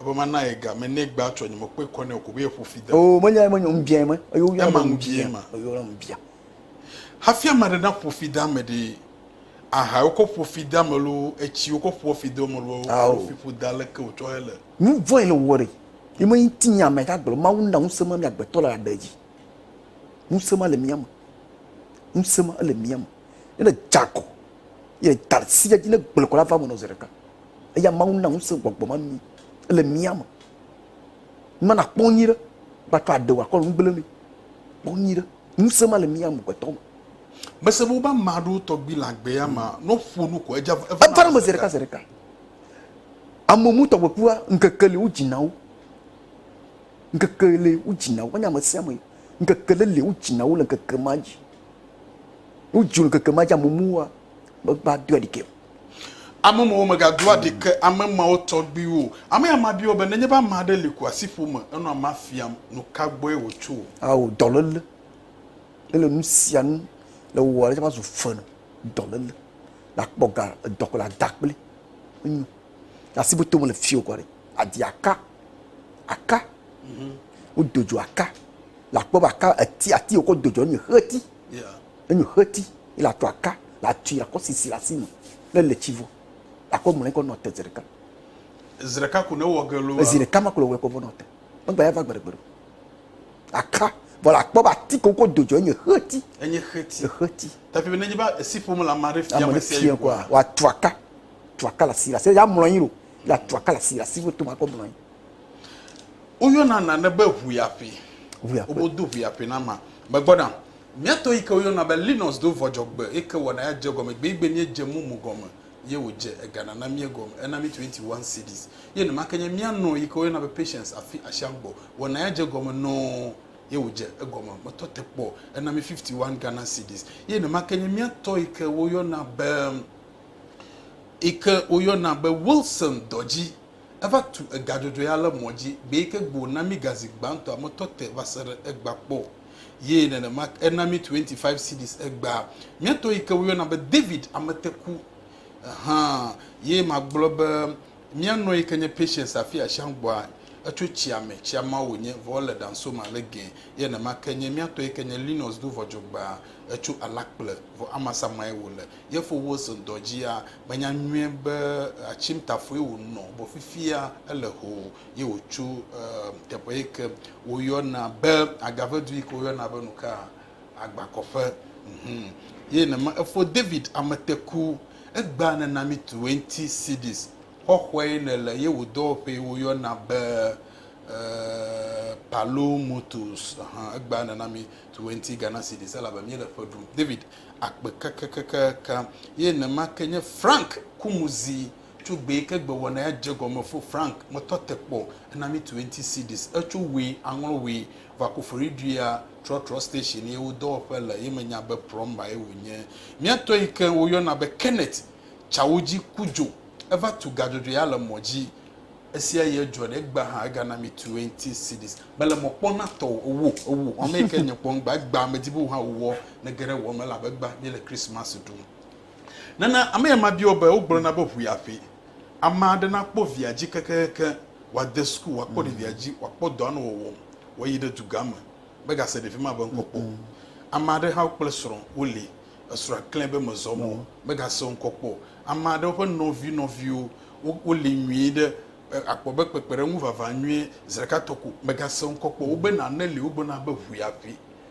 Ebe mana ye ga me ne gba tsɔ nye me kpe kɔ ne ko be ye ƒo fi de. O me nya me nya mbia me. Eyo ya ma mbia ma. Eyo ya mbia. Hafi ama ɖe na ƒo fi da me ɖe. Aha yo ko ƒo fi da me lo etsi yo ko ƒo fi de me lo. Awo fi ƒo da le ke o tsɔ hele. Nu vɔn ele wɔ re. Ye me nti nya me ka gblɔ ma wu na ŋuse ma mi agbe tɔ le la ɖe ji. Ŋuse ma le mia me. Ŋuse ma ele mia me. Ele jako. Ye talsi ya ji ne gblɔ kɔ la va me no zere ka. Eya Mawu na ŋusẽ gbɔgbɔ ma mí le mía me. Numa nakpɔ nyui ɖe gbatrɔ aɖe wò akɔ nu gblẽ mi. Kpɔ nyui ɖe. Ŋusẽ ma le mía me gbetɔ me. Mese be wobe ame aɖewo tɔgbi le agbe ya me ne woƒo nu ko edze eva na eme zi ɖeka zi ɖeka. Ame mu tɔgbekua ŋkeke li wodzina wo. Ŋkeke li wodzina wo. Wonye ame sia ame. Ŋkeke ɖe li wodzina wo le ŋkeke ma dzi. Wodzi wo le ŋkeke ma dzi ame muwoa Megba doa ɖike o. Ame mawo mega doa ɖike ame mawo tɔgbiwo. Ame ya ma biɔ be ne nye ba ma ɖe li kua si ƒome enɔ ama fiam nu ka gbɔe wo tso. Awo dɔlele. Ne le nu sia nu le wo wɔle tsaba zu fenu dɔlele. La kpɔ ga dɔ kple ada kple enyo. La si boto me le fio kɔ ɖe. Adi aka. Aka. Mhm. Wo dojo aka. La kpɔ ba aka eti ati wo kɔ dojo nye heti. Yeah. Enyo xeti ye la tu aka la tui la kɔ sisi la si me le le tsi vɔ la kɔ mlɔe kɔ nɔ te zeɖeka. Ezi ɖeka ko ne wɔ ge lo. Ezi ɖeka ma ko le wɔ kɔ vɔ nɔ te. Megba ya va gbe ɖegbe ɖo. Aka vɔ la kpɔ ba ti ko ko dojo enye xeti. Enye xeti. E xeti. Tapi be ne ba esi ƒome la ma ɖe fia ma sia yi ko. Wa tu aka tu aka la si la se ya mlɔe ro la tu aka la si la si to ma kɔ mlɔe. Oyɔ na na ne be ʋuyaƒe. Ʋuyaƒe. Obo do ʋuyaƒe na ma. Megbɔ na. Mía to yi ke woyɔna be Linus do vɔ dzɔgbe yi ke wɔna ya dze gɔme gbeegbe mí edze mumu gɔme ye wòdze ega nana mí egɔme ena mí twenty one cedis ye nema ke nye mía nɔ yi ke woyɔna be Patience afi asian gbɔ wɔna ya dze gɔme nɔɔ ye wòdze egɔme metɔ te kpɔ ena mí fifty one Ghana cedis ye nema ke nye mía tɔ yi ke woyɔna be yi ke woyɔna be Wilson dɔ dzi eva tu ega dzɔdzɔ ya le mɔ dzi gbe yi ke gbe wòna mí gazi gbãtɔa metɔ te va se ɖe egba kpɔ. ye nenema ena mi 25 cedis egbea. Mía tɔ yi ke woyɔna be David Ameteku hã ye magblɔ be mía nɔ yi ke nye Patience afi asiagbɔa etso tsia me tsia ma wònye vɔ le Dansoma le gɛ ye nenema ke nye mía tɔ yi ke nye Linus do vɔdzɔgbea etso Alakple vɔ amasa mae wòle ye fo wo zendɔ dzia menya nyuie be atsimtafoe wònɔ vɔ fifia ele hoo ye wòtso um, teƒe yi ke woyɔna be agavedu yi ke woyɔna be nu ka agbakɔƒe. Mhm. Ye nema efo David ameteku egba nena mi tuwe ŋuti Sidis xɔxɔe ne le ye wò dɔwɔƒee woyɔna be uh, Palomotos. Aha, egba nena mi tuwe ŋuti Ghana Sidis elabe mi le ƒe ɖum. David akpe kakakakaka. Ye nema ke nye Frank Kumuzi. Tso gbee ke gbe wɔna ya dze gɔme fo Frank ŋtɔ te kpɔ ena mi twenty cedis. Etso woe aŋlɔ woe va Koforidua trɔtrɔ station ye wo dɔwɔƒe le ye me nya be prɔmba ye wo nye. Mia tɔ yi ke wo yɔna be Kenneth tsa wo dzi ku dzo. Eva tu ga dzodzoe ya le mɔ dzi. Esia ye dzɔ ɖe egbea hã ega na mi twenty cedis. Mele mɔ kpɔ na tɔ o ewo ewo ame yi ke nye kpɔ ŋgba egbea me di be wo hã wo wɔ ne ge ɖe wɔ me elabe egbea mi le Christmas ɖum. Nana ame ya mabia wò be wogblɔna be ʋui aƒee. Ame aɖe nakpɔ via dzi kekeake, wòade suku, wòakpɔ ɖevia dzi, wòakpɔ dɔa nɔ wɔwɔm, wòayi ɖe dugã me, megase ɖevi ma ƒe ŋkɔ kpɔ o. Ame aɖe hã kple srɔ̃ woli, esrɔ̃a klãe be mezɔ mɔ o, megase wo ŋkɔ kpɔ o. Ame aɖewo ƒe nɔvi nɔviwo woli nyuie ɖe, àkpɔ be kpekpeɖeŋu vava nyuie, zi ɖeka tɔ ko, megase wo ŋkɔ kpɔ o. Wobe nane li wogblɔna be ʋui aƒee.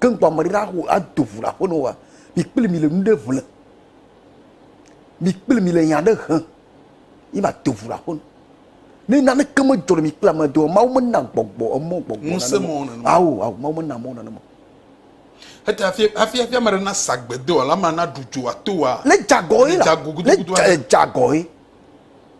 Ke ŋkɔ ame ɖeka axɔ ado ŋu le aƒe ne woa, mi kple mi le nu ɖe ŋle. Mi kple mi le nya ɖe hem ye ma do ŋu le aƒe ne. Ne nane ke me dzɔ le mi kple ame doa, Mawu mena gbɔgbɔ emɔ gbɔgbɔ nane. Ŋusẽ mɔ nane. Awo, awo, Mawu mena mɔ nane. Hete hafi hafi hafi ame ɖe na sagbe doa, la ma na ɖu dzoa toa. Le dzagɔ ye la. Le dzagɔ gudugudu. Le dzagɔ ye.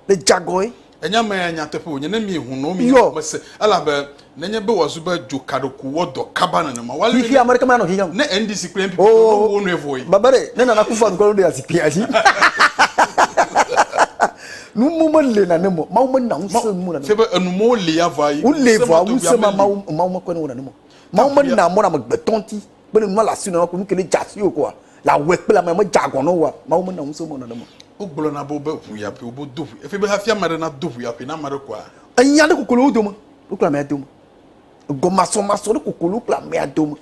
le jagɔe. Enya mea nyateƒe wònye ne mieho nɔwo mi nya me se elabe nenye be wòazu be dzokaɖoku wɔ dɔ kaba nenema wale ne. Xixi ame ɖeke manɔ xixi ne NDC kple NPP oh, tɔ wo nɔe vɔe. Baba ɖe ne nana kufu adu kɔlɔ ɖe azikpi azi. Numo mele na ne mo mawu mena ŋusẽ numo na ne. Sebe enumo le ya vɔ ayi. Wole vɔ ŋusẽ ma mawu mawu mekɔe ne wona ne mo. Mawu mena mɔ na amegbetɔ ŋuti Kpe ɖe nu ma le asiwò nana ko nu ke ne dze asiwò koa, le awɔe kple ame medze agɔ na wòa, Mawu mena ŋusẽ wò nenema o. Wogblɔna be wobe ʋu ya ƒee wobe do ʋu. Efee be hafi ame aɖe nado ʋu ya ƒee na ame aɖe koa. Enya ɖe koko le wo dome, wo kple amea dome. Egɔmasɔmasɔ ɖe koko le wo kple amea dome.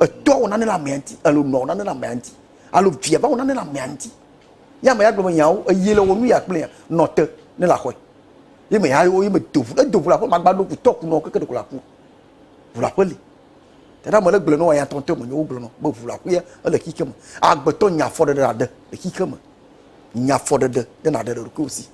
Etɔa wɔ nane le amea ŋuti alo nɔa wɔ nane le amea ŋuti alo via va wɔ nane le amea ŋuti. Ye ame ya gblɔ be nyawo eye le wɔ nu ya kplia nɔ te ne le axɔe. Ye me ya ye me do ʋu. Ne do ʋu le aƒe magba ɖo ʋutɔ ku nɔ keke ɖeko le aku. Ʋu le aƒe li. Tena mele gblɔe nɔ ya tɔntɔe menye wogblɔ nɔ be ʋu la ƒuya ele xixe me. Agbetɔ nya afɔɖeɖe la ɖe le xixe me. Nya afɔɖeɖe ɖe na ɖe le ɖokuiwo si.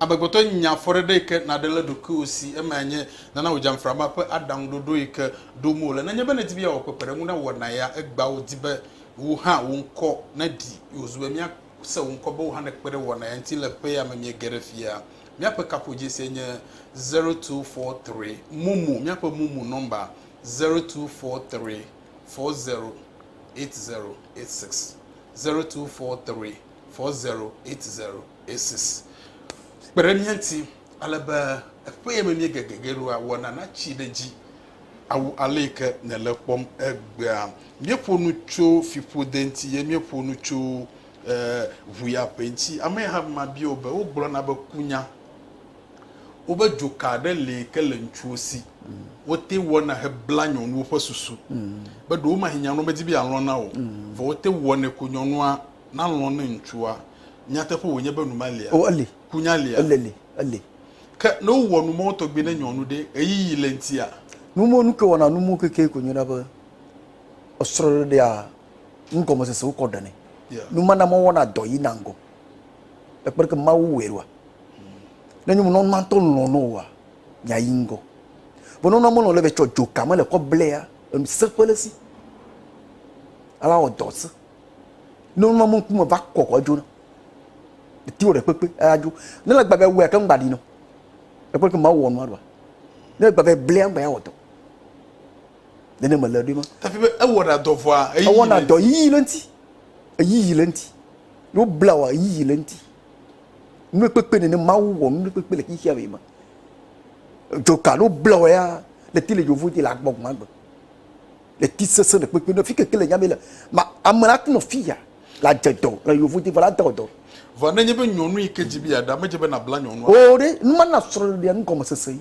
Amegbetɔ nya afɔɖeɖe yi ke na ɖe le ɖokuiwo si. Eme anye nana wò dzamframa ƒe aɖaŋu ɖoɖo yi ke ɖom wole. Nenye be nèdi be yeawɔ kpekpeɖeŋu na wò na ya, egbea wò di be wò hã wò ŋkɔ neɖi. Wòzu be mía se wò ŋkɔ be wò hã nèkpe ɖe wò na ya ŋuti le ƒe ya me miege ɖe fia. Míaƒe kaƒodzesie nye zero two four three momo míaƒe momo nɔmba zero two four three four zero eight zero eight six zero two four three four zero eight zero eight six. Kpe ɖe mía ŋuti ale be eƒe ye me míege gege ɖo awɔna natsi ɖe edzi awu ale yi ke nèle kpɔm egbea. Míeƒo nu tso fiƒode ŋuti ye míeƒo nu tso Ee, ŋuyaƒe ŋuti. Ame hã ma bia wò be, wogblɔna be kunya woƒe dzoka aɖe li ke le ŋutsuwo si wote ŋu wɔna heblaa nyɔnuwo ƒe susu be ɖewomahi nyɔnua medi be yealɔ̃ na wò o, vɔ wote ŋu wɔnɛ ko nyɔnua nalɔ̃ ne ŋutsua. Nyateƒe wònye be nu ma lia? O, eli. Kunya lia? Ele li, eli. Ke ne wowɔ nu mawo tɔgbi ne nyɔnu ɖe, ɣeyiɣi le eŋutia? Nu mawo, nu ke wɔna nu mawo keke ko nyo na be esrɔ̃ɖeɖea. nugɔmesese wokɔ ɖenɛ numana mɔ wɔna dɔ yi na ŋgɔ ekpeke mawu wɛ ɖoa ne nyɔnu nɔ mantɔ lɔn no wa nya yi ŋgɔ vɔ nɔnɔ mɔlɔ le vɛ tsɔ dzo kame le kɔ blɛ ya enu se ƒe le si ala wɔ dɔ se nɔnɔ mɔ ŋkume va kɔkɔ dzo na ti wɔ ɖe kpekpe aya dzo ne le gbavɛ wɛ ke ŋgba ɖi nɔ ekpeke mawu wɔ nua ɖoa ne le gbavɛ blɛ ŋgba ya wɔ dɔ nene mele ɖoe ma. Tafi be ewɔna dɔ vɔa eyiyi. Ewɔna dɔ yiyi le ŋuti. Eyiyi le ŋuti. Ne wobla wa eyiyi le ŋuti. Nukpekpe nene Mawu wɔ nukpekpe le xexea me ma. Dzoka ne wobla wa ya le ti le yovo dzi le agbɔ gɔn agbe. Le ti sese le kpekpe ne fi keke le nyame le. Ma ame la tino fi ya la dze dɔ le yovo dzi vɔ la dɔ dɔ. Vɔ ne nye be nyɔnu yi ke dzi bi ya ɖa me dze be na bla nyɔnua. O ɖe numa na srɔ̃ɖeɖea nu gɔmesese yi.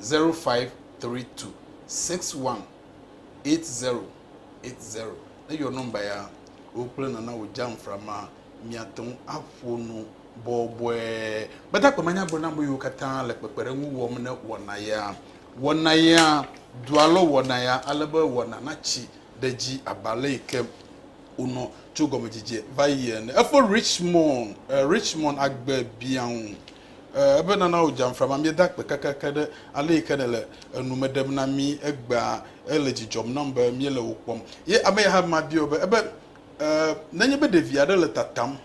0532618080. Ne eyɔ nɔmba ya, wò kple nana wò dzamfra ma miate ŋu aƒo nu bɔbɔe. Gbadagbe ma nya gblɔ na ame yiwo katã le kpekpeɖeŋu wɔm ne wɔna ya. Wɔna ya dua lɔ wɔna ya ale be wɔna natsi ɖe edzi abe ale yi ke wonɔ tso gɔmedzedze va yi ene. Efo Richmond, eh, Richmond agbe biã ŋu. Ee, ebe nana wò dzamfra mamie da akpe kekeake ɖe ale yi ke nèle enu me ɖem na mí egbea. Ele dzi dzɔm nam be míele wò kpɔm. Ye ame ya hã ma biɔ be, ebe, Ee, nenye be ɖevi aɖe le tatam,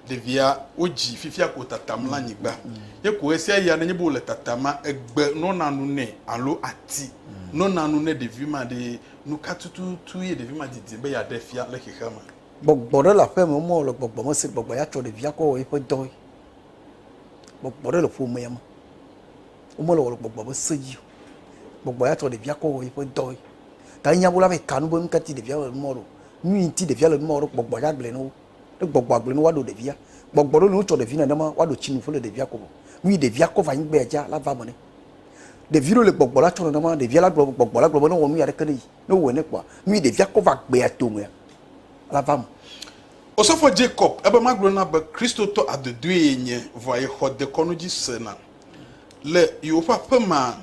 ɖevia wodzi fifia ko tatam le anyigba, ye ko ɣesia ɣia nenye be wòle tatama, egbe nɔna nu nɛ alo ati nɔna nu ne ɖevi ma ɖe, nu ka tututu ye ɖevi ma didim be yeaɖe fia le xexea me? Gbɔgbɔ ɖe le aƒea me, womewɔ le gbɔgbɔ me se gbɔgbɔ yeatsɔ ɖevia kɔ wɔ eƒe dɔe Gbɔgbɔ ɖe le ƒomea me. Womele wɔ le gbɔgbɔ be se dzi o. Gbɔgbɔ ya tɔ ɖevia kɔ wɔ yiƒe dɔ ye. Ta enye abu la be ka nu be nu ka ti ɖevia le nu ma wɔɖo. Nu yi ŋuti ɖevia le nu ma wɔɖo gbɔgbɔ ya gblɔe na wo. Ne gbɔgbɔa gblɔe na wo woaɖo ɖevia. Gbɔgbɔ ɖewo li wotsɔ ɖevi nenema woaɖo tsinu ƒe le ɖevia kɔme. Nu yi ɖevia kɔ va anyigbea dzia la va eme nɛ. Ɖevi ɖewo li gbɔgbɔ la tsɔ nenema ɖevia la gblɔ gbɔgbɔ la gblɔ be ne wɔ nuya ɖeke ne yi. Ne wowɔe nɛ kpɔa nu yi ɖevia kɔ va agbea tomea la va eme. Osɔfo Jacob, ebe magblɔ na be Kristotɔ adodoe yenye vɔa yexɔ dekɔnu dzi se na. Le yewoƒe aƒe mea,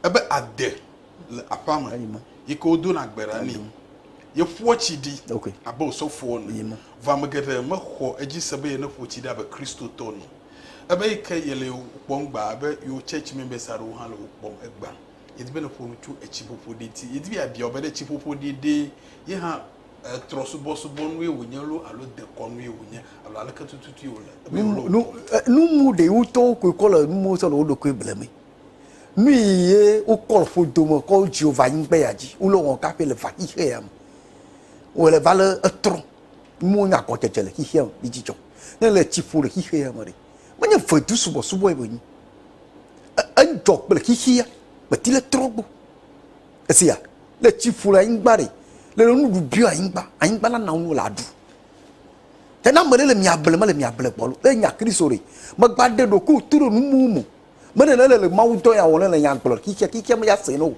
ebe ade le aƒea me yi ke wodona gbe ɖa nɛ. Yeƒoa tsi ɖi abe osɔfo ene, vɔ ame geɖe mexɔ edzi se be yeneƒo tsi ɖi abe Kristotɔ ene o. Ebe yi ke yele yewo kpɔm gbã, ebe yewo church members aɖewo hã le wo kpɔm egbã. Yedi be neƒo nu tso etsiƒoƒo ɖi ŋuti. Yedi be yeabia wo be ɖe etsiƒoƒo ɖi ɖee ye hã trɔsubɔsubɔnue wònye loo alo dekɔnue wònye alo aleke tututue wòle. Numu ɖe wotɔwo koe kɔ le numuwo sɔ le wo ɖokui ble me. Nu yi ye wokɔ le ƒodo me kɔ Jehovah anyigbe ya dzi wole wɔm kaƒe le vaxixe ya me. Wòle va le etrɔ. Numuwo nye agɔdzedze le xexea me kple dzidzɔ. Ne le tsi ƒo le xexe ya me ɖe, menye vedu subɔsubɔe wònye. Edzɔ kple xexea, meti le trɔ gbɔ. Esia, le tsi ƒo le anyigba ɖe, le le nuɖuɖu biɔ anyigba, anyigba la na nu le aɖu. Te na ame ɖe le mia ble me le mia ble gbɔlo. Le nya Kristo ɖe, megba ɖe ɖo ko tu ɖo nu mu mu. Me ɖe le le le Mawu dɔ ya wɔ le le nya gblɔ ki kia ki kia me ya se no.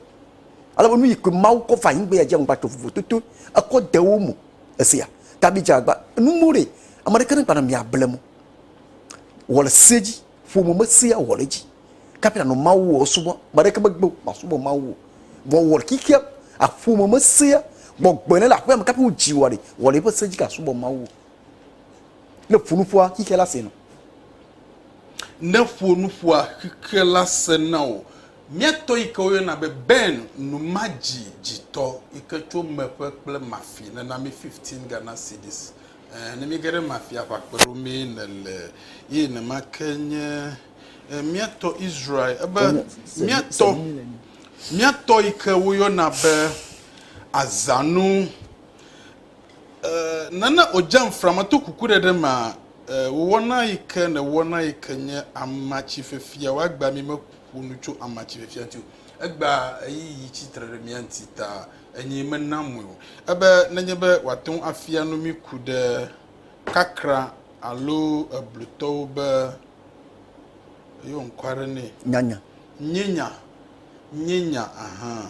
Ale be nu yi ke Mawu kɔ fa anyigba ya dzi agba to vovo toto ekɔ de wo mu. Esia, ta bi dza agba nu mu ɖe, ame ɖe ke ne gba na mia ble mo. Wɔ le se dzi. Ƒome me sea wɔ ɖe edzi. Kafi anɔ Mawu wɔ esubɔ. Ame aɖeke megbe o masubɔ Mawu o. Vɔ wɔ xexea aƒome me sea gbɔgbɔe ne le aƒea me kafi wodzi wɔ ɖe wɔ ɖe eƒe se dzi ke asubɔ Mawu o. Ne ƒo nuƒoa xexea la sena. Ne ƒo nuƒoa xexea la sena o. Miatɔ yi ke woyɔna be Ben numadzidzitɔ yi ke tso Meƒe kple Mafi nana mi fifteen Ghana cedis Ɛɛ, ne míege ɖe mafiaʋakpe ɖo mee nèle eye nema ke nye mía tɔ Israel. Ebe mía tɔ, mía tɔ yi ke woyɔna be azãnu. Ɛɛ, nana wòdze amframa to kukuɖeɖe mea, ɛɛ, wò wɔna yi ke nèwɔna yi ke nye amatsi fifia. Wò agbe ami meƒo nu tso amatsi fifia ŋuti o. Egbea ɣeyiɣi tsi tre ɖe mía ŋuti ta Enye mena mɔe o. Ebe nenye be wòate ŋu afia nu mí ku ɖe kakra alo eblutɔwo be yɔ ŋkɔ aɖe nɛ. Nyanya. Nyenya. Nyenya, ahan.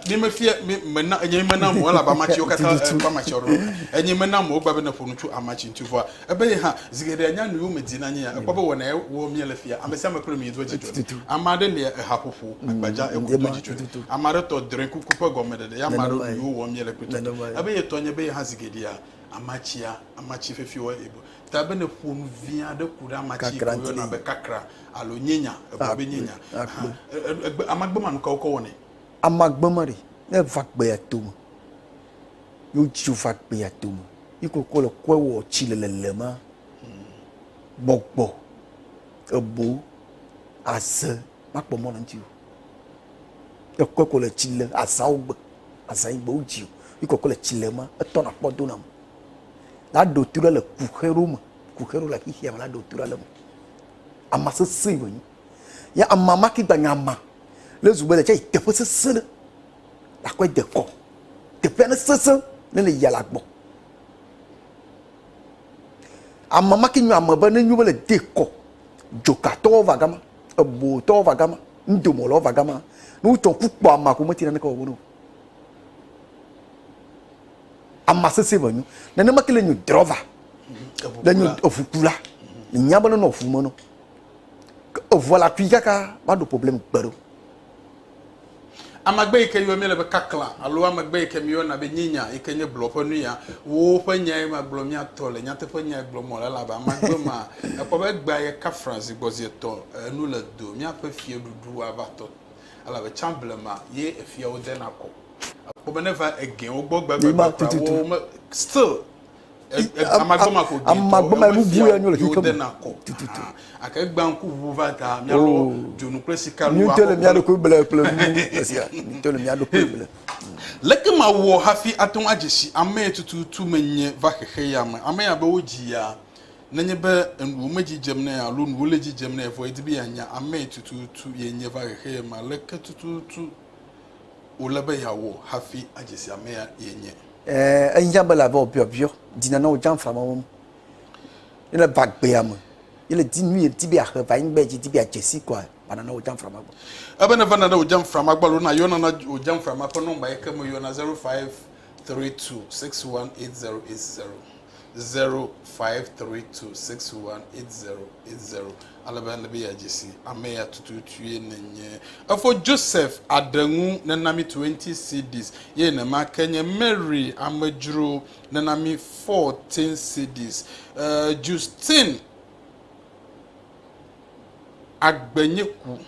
Mi mefia, mi mena, enye mena mɔe elabe amatsi wo katã, Tututu. eh, kpɔ amatsi aɖewo. Enye mena mɔe wogba be neƒo nu tso amatsi ŋuti vɔa Ebe ye hã, zi geɖea nya nu yome dina nyea, ekpɔ be wɔna ye wɔ miele fia. Ame sia ame kple nuyi doa dzidzɔ nɛ. Ame aɖe lia ehaƒoƒo, agbadza, eku doa dzidzɔ nɛ. Ame aɖe tɔ drɔ̃e kuku ƒe gɔmeɖeɖe ye ame aɖewo nu yiwo wɔm miele kpɔe tɔte. Ebe ye tɔ nye be ye hã zi geɖea amatsia, amatsi fefi wɔ ye bo. Ta be ne ƒo nu vi aɖe ku ɖe amatsi yi ke woyɔna be kakra alo nyenya, egblɔ be nyenya, hã, e, e, egbe, amagbema nukawo ke wɔnɛ? Amagbema ɖe, ne eva gbea tome, Yo dzi va gbea dome. Yi kokɔ le kɔe wɔ tsi le lelema. Gbɔgbɔ ebo aze makpɔ mɔ le ŋuti o. Ekɔe kɔ le tsi le azawo gbe. Aza yi gbe wo dzi o. Yi kokɔ le tsi le ma. Etɔ na kpɔ do na me. La ɖo tu le kuxe ɖo me. Kuxe ɖo le xixia me la ɖo tu le me. Ama sese yi wonyi. Ya ama ma ki gba nya ama. Le zugbe le tse teƒe sese ɖe. Aƒe dekɔ, teƒea ne sesẽ ne le yia la gbɔ. Ame ma ke nyo ame be ne nyo be le de kɔ. Joka tɔwo va gama, ebo tɔwo va gama, ndomo lɔwo va gama. Ne wo tɔ ku kpɔ ama ko me ti na ne kɔ wo no. Ama sese va nyo. Ne ne ma ke le nyo drova. Le nyo efu kula. Nya be no no fu me no. Evoa la kui kaka ba do problem gbero. Amagbe yi ke yɔa míele be kaklã alo amagbe yi ke míeyɔna be nyinya yi ke nye blɔ ƒe nuya, woo ƒe nyae magblɔ mía tɔ le. Nyateƒe nyae gblɔm mele elabe amagbe ma ekpɔ be egbea yekafra zi gbɔ zi etɔ̃ enu le do míaƒe fiaɖuɖu ava tɔ elabe tsã blema ye efiawo dena kɔ. Ekpɔ be ne va egɛwo gbɔ gbegbe kura woo me still. amagbemafogɛtɔ emesia yewo dena kɔ tututu gake egbea ŋku ʋuʋu va ta míalɔ dzonu kple sika nu akɔ le mía ɖokui ble kple nu esia míto le mía ɖokui ble leke mawɔ hafi ate ŋu adze si ame tututu menye va xexe ya me ame ya be wodzi ya nenye be enuwo medzi dzem nɛ alo nuwo le dzi dzem nɛ vɔ edi be yeanya ame tututu yenye va xexe ya me aleke tututu wòle be yeawɔ hafi adze si ame ya yenye Ɛɛ, ehiã be la veo biɔbiɔ dina na wo djã fama wo ŋu. Ye le va gbea me, ye le di nu ye di be ahe va anyigba ye dji di be adje si kɔa, va nana wo djã fama gbɔ. Ebe ne va nana wo djã fama gbɔ alo na yɔ nana wo djã fama ƒe nɔmba yi ke me yɔna 0532618080, 0532618080. ale be ele be yeadze si ame ya tututue nènye. Efo Joseph aɖe ŋu nena mí twenty cedis, eye nema ke nye Mary amedzro nena mí fourteen cedis. Justine agbenye ku.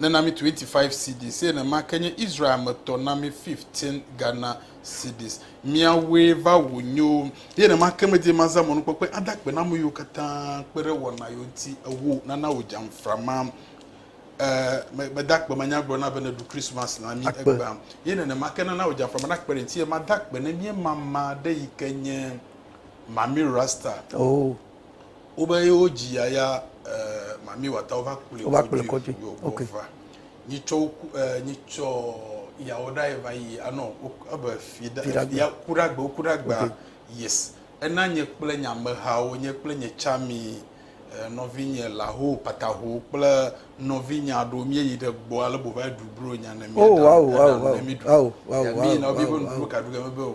nena mi 25 cedis eye nenema ke nye Israel me tɔ na mi 15 Ghana cedis. Miawoe va wò nyewo. Eye nenema ke medi be mazã mɔnukpɔkpɔe ada akpe na ame yiwo katã kpe ɖe wɔna yewo ŋuti ewo nana wò dzamfra ma. E, me, meda akpe manya gblɔ na be neɖu Christmas na mi Akpe. egbea. Eye nenema ke nana wò dzamfra ma nakpe ɖe ŋuti eye mada akpe ne míemama ɖe yi ke nye Mami Rasta. Oo. Wobe ye wo dzi ya ya eh, mami wata wova kplɔe Wova kplɔe kɔdzi. kɔdzi. Yo, Okay. wova. Nyi tsɔ wo ku- eh, nyi tsɔ yawo ɖa ye va yi anɔ wo- ebe fi ɖa- Fi ɖa gbe. ya ku ɖa gbe woku ɖa gbea Okay. yes ena nye kple nye amehawo nye kple nye tsami eh, nɔvinye laho pataho kple nɔvinye aɖewo míeyi ɖe gbɔ ale bo va yi ɖu bro nya ne Oh, míaɖa wow, ena wow, ne wow. míɖu. Wow, wow, Ya wow, míyina wo wow, míebe wow. nuɖuɖu ka ɖu ge mebe o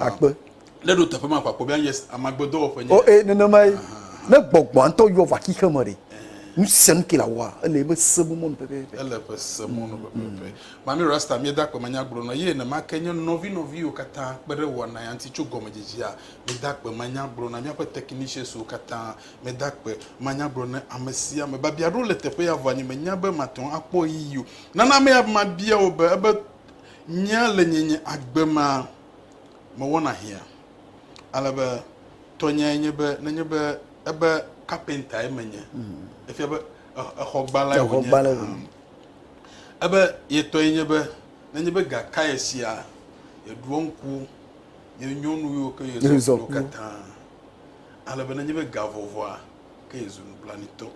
akpe. Ne ɖo teƒe ma kpakpɔ bia yes amagbedɔwɔƒe nye. O e nenema ye. Ne gbɔgbɔa ŋutɔ yɔ va xixe me ɖe. Nu sia nu ke la wɔa ele ebe se bu mɔnu pɛpɛpɛ. Ele ebe se mɔnu pɛpɛpɛ. Mami Rasta mi da kpe me nya gblɔ nɔ ye nenema ke nye nɔvi nɔvi yiwo katã kpe ɖe wɔna ya ŋuti tso gɔmedzedzea mi da kpe me nya gblɔ na miaƒe technicians wo katã mi da kpe me nya gblɔ ne ame sia ame babia ɖewo le teƒe ya vɔ nye me nya be mate ŋu akpɔ ɣeyiɣi o nana ame ya be mabia wo be ebe Nya le nye nye agbe ma mewɔna hiã ale be tɔnyae nye be nenye be ebe kapentae menye efia be exɔgbãlae wònye hã ebe ye tɔe nye be nenye be ga kae sia yeɖoa ŋku nye nyɔnu yiwo ke yezɔ kple wo katã ale be nenye be ga vɔvɔa ke yezu nublanuitɔ.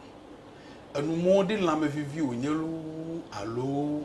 Enumɔɖi lãmevivi wònye loo alo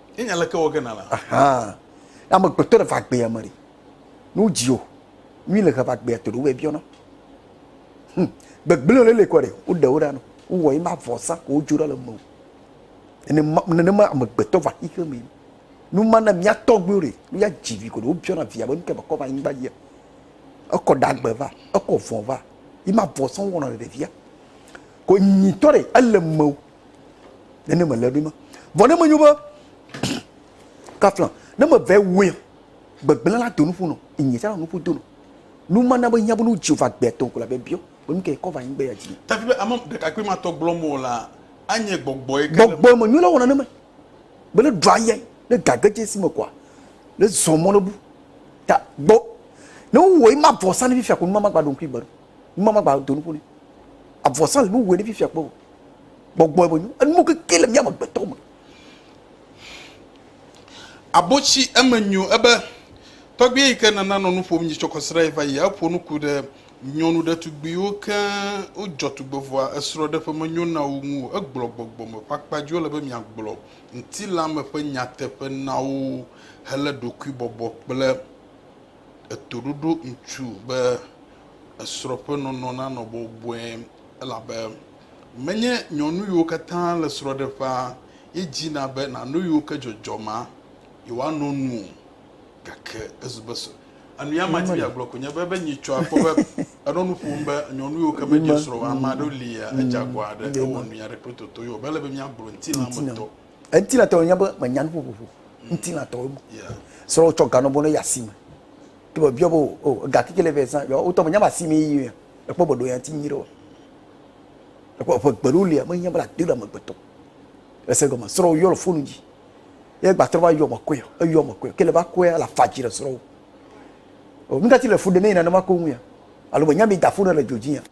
Ye nya leke wɔ ge na la. Ahan. Na me gbetɔ ɖe va gbea me ɖi. Nu dzi o. Nyui le he va gbea to ɖe wobɛ biɔna. Hm. Gbegblẽ le le kɔ ɖe. Wo ɖe wo ɖa no. Wo wɔ ima vɔ sa ko wo dzo ɖa le me o. Ene ma nene ma me gbetɔ va xixe me. Nu ma na mia tɔ gbeo ɖe. Nu ya dzi vi ko ɖe wo biɔna via be nu ke me kɔ va nyi gba yia. Ekɔ ɖa gbe va. Ekɔ vɔ va. Ima vɔ sa wo wɔna ɖe via. Ko nyi tɔ ɖe ele me o. nene mele ɖi ma vɔ ne menyo be kafla ne mevɛ wɛ gbegblẽ la do nuƒo nɔ inye tsɛ la nuƒo do nɔ nu ma na be hiã be nu dzi va gbɛ tɔn ko la bɛ biɔ be nu kɛ kɔ va anyigbe ya dzi. tafi be ame ɖekakpui ma tɔ gblɔm o la anye gbɔgbɔ yi ke gbɔgbɔ me nyo la wɔna ne me be ne ɖɔ ayɛ ne gage dze si me kɔa ne zɔ mɔ ne bu ta gbɔ ne wowɔ yi ma vɔ sa ne fifia ko nu ma ma gba ɖo ŋkui gbe ɖo nu ma ma gba do nuƒo ne avɔ sa le nu wɔ ne fifia kpɔ o. Gbɔgbɔe me nyo. Enuwo keke le mía amegbetɔ me. Abotsi eme nyo ebe tɔgbui yi ke nana nɔ nu ƒom nyi tsɔ kɔsiɖa yi va yi. Eƒo nu ku ɖe nyɔnu ɖetugbuiwo keŋ wodzɔ tugbevɔa esrɔ̃ɖeƒe menyo na wo ŋu o. Egblɔ gbɔgbɔ me ƒe akpa dzi wole be miagblɔ ŋutilã me ƒe nyateƒe na wo helé ɖokuibɔbɔ kple etoɖoɖo ŋutu be Esrɔ̃ ƒe nɔnɔ nanɔ bɔbɔe elabe menye nyɔnu yiwo katã le srɔ̃ɖeƒea ye dzina be nàno yiwo ke dzɔdzɔ ma yewoano nu o. Gake ezu be srɔ̃. Enuya madi be yeagblɔ koe nye be, be nyitsɔ akpɔ be enɔ nu ƒom be nyɔnu yiwo ke medze srɔ̃ o, ame aɖewo lia, edze agɔ aɖe, ewɔ nuya ɖe kple toto yewo. Mele be míagblɔ ŋutilãmetɔ. Ŋutilãtɔ nye be menya nuƒoƒoƒo ŋutilãtɔwo me. Srɔ̃wò tsɔ ga nɔ bɔ ne yi asime. Ke be biɔ bo o ega kike le vɛ san yɔ wotɔ me nyama asi me yi ya. Ekpɔ be ɖo ya ti nyi ɖo. Ekpɔ eƒe gbelu lia me nya bla de ɖe amegbetɔ. Ese gɔme srɔ yɔ le fonu dzi. Ye gbatrɔ va yɔ me koe yɔ, eyɔ me koe. Ke le va koe la fa dzi le srɔ. O nudati le fu de ne yina ne ma ko ŋu ya. Alo be nyami da fu ne le dodzi ya.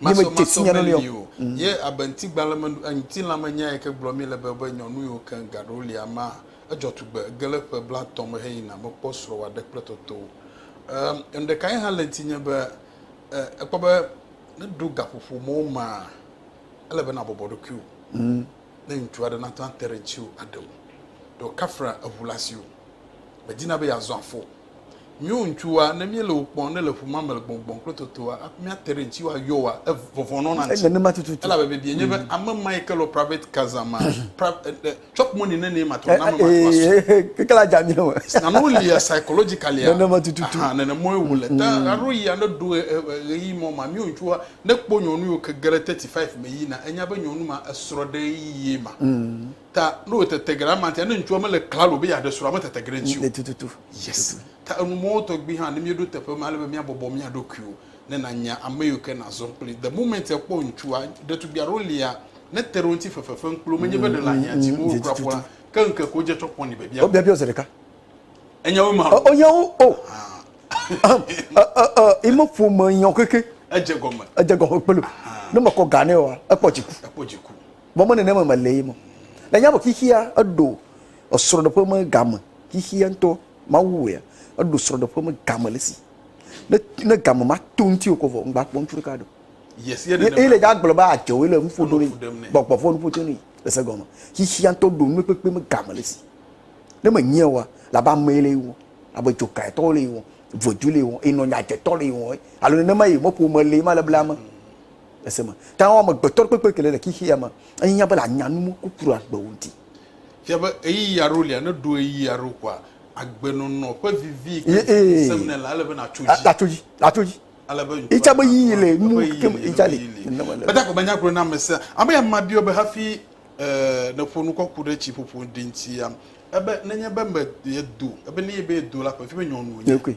masɔmasɔ meli o mm. ye abe ŋutigbalẽ me ŋutilã me nya yike gblɔ mi le be be nyɔnu yiwo ke gaɖo lia ma edzɔ tugbe ge le ƒe blatɔ me heyina mekpɔ srɔ̃ wòaɖe kple toto enu ɖeka ye hã le ŋuti nye be ekpɔ be ne ɖo gaƒoƒo mɔwo ma ele be nabɔbɔ ɖokuiwo mm. ne ŋutsu aɖe nate ate ɖe ŋuti o aɖewo ɖo kafra eŋu le asiwo medina be yeazɔ afɔ Míwo ŋutsuwoa, ne míele wò kpɔm, ne le ƒu ma me le gbɔngbɔn kple totoa, hafi míate ɖe ŋutiwò ayɔ woa, ev, vɔvɔ̃ nɔna ŋuti. Ele nenema tututu. Elabe biebie nye be, ame ma yi ke lɔ private kaza ma, pra, e, e, chop money ne nɛ matrɔ na ame ma to asu. Ee, keke la dza míawo. Nane wo lia psychologically a? Nenema tututu. Ahan, nene mɔe wo le. Ta aɖo yi ane ɖo ɣe, e, e, ɣeyiɣi mɔ ma, míwo ŋutsuwoa, ne kpɔ nyɔnu yi wo ke ge ɖe thirty five me yina, enya be nyɔnu ma esrɔ̃ɖeɣeyiɣie ma. Ta ne wò tete geɖe ama tia ne ŋutsua me le klalo be ya ɖe srɔa me tete geɖe ŋuti o. Le tututu. Yes. Ta enu mɔwo tɔgbi hã ne mi ɖo teƒe ma lebe mia bɔbɔ mia ɖokuiwo ne na nya ame yiwo ke na zɔn kpli. The moment e kpɔ ŋutsua ɖetugbi aɖewo lia ne te ɖe wo ŋuti fefe fem kpli wo me nye be ɖe le ahia dim wo kura kpɔ la ke ŋkeke wo dze tsɔ kpɔ ni be bia. Wo bia bia wo ze ɖeka. Enya wo ma. O nya wo o. Ahem i me ƒo me nya wo keke. Edze gɔme. Edze gɔme kpli. Ne me kɔ ga ne wa ekpɔ dziku. Ekpɔ dziku. Mɔ me nenema me lee mɔ. Le nyabo xixia eɖo esrɔɖeƒe me game xixia ŋtɔ Mawu wɔea eɖo srɔɖeƒe me game le si ne ne game ma to ŋti o kɔ vɔ ŋgba kpɔ ŋtsu ɖeka ɖeo. Yes ye nenema. Ye le dza gblɔ be adze o le ŋfo ɖo ne gbɔgbɔ vɔ nuƒo to ne le se gɔme xixia ŋtɔ ɖo nume kpekpe me game le si ne me nyia wa la ba me le wɔ abe dzokae tɔ le wɔ vɔdu le wɔ enɔ nya dze tɔ le wɔ alo nenema ye mɔ ƒome le ma le bla me. ese me. Ta wo amegbetɔ kpekpe kele le xexea me enya be la nya nu mo kukuru agbe wo di. Fia be eyi yaro lia ne ɖo eyi yaro kwa agbe nɔnɔ ƒe vivi ke sem ne la ale be na tso ji. La tso ji, la tso ji. Ale be ŋutsu. Itsa be yi le nu ke me itsa le. Beta ko menya gblɔ na me se. Ame ya ma biɔ be hafi eh ne ƒo nu kɔku ɖe tsi ƒoƒo ɖinti ya. Ebe ne nye be me ye do, ebe ne ye be ye do la ƒe fi be nyɔnu nye.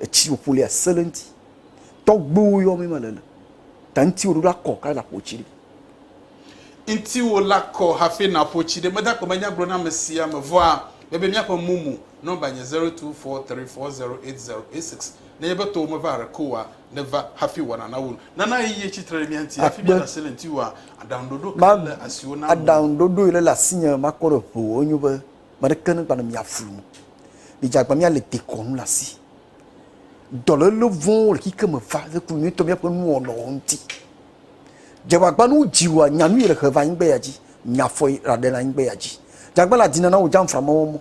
Etsi wòƒo lia sẽ ɖe eŋuti. Tɔgbuiwo yɔ mi mele le. Ta ŋutiwò ɖoɖo akɔ kae nàƒo tsi ɖi. Ŋutiwò la kɔ hafi nàƒo tsi ɖi. Meda kpemenya gblɔ na ame sia ame. Vɔa, mebia míaƒe mumu. Nɔmba nye zero two four three four zero eight zero eight six. Nenye be tɔwò meva haɖe ke oa, nèva hafi wɔna nawu nu. Nana ɣeyiɣi etsi tre ɖe mía ŋuti. Hafi míaɖe asi le ŋutiwòa, aɖaŋuɖoɖo kae le asiwò na ame? Aɖaŋuɖoɖoe le le asinye makpɔ ɖe ŋuwò. Enyo be Ame aɖeke megba nɔ mia flum o. Midze agbagba míalé dekɔnu ɖe asi. Dɔléle vɔ̃wo le xexea me va le ku nyuitɔ míaƒe nuwɔnawo ŋuti. Dze agbagba ne wodzi wòa nya nu yi le he va anyigba ya dzi. Nya fɔ yi ɖaɖe le anyigba ya dzi. Dze agbagba le adina na wò jamfra mawo mɔ.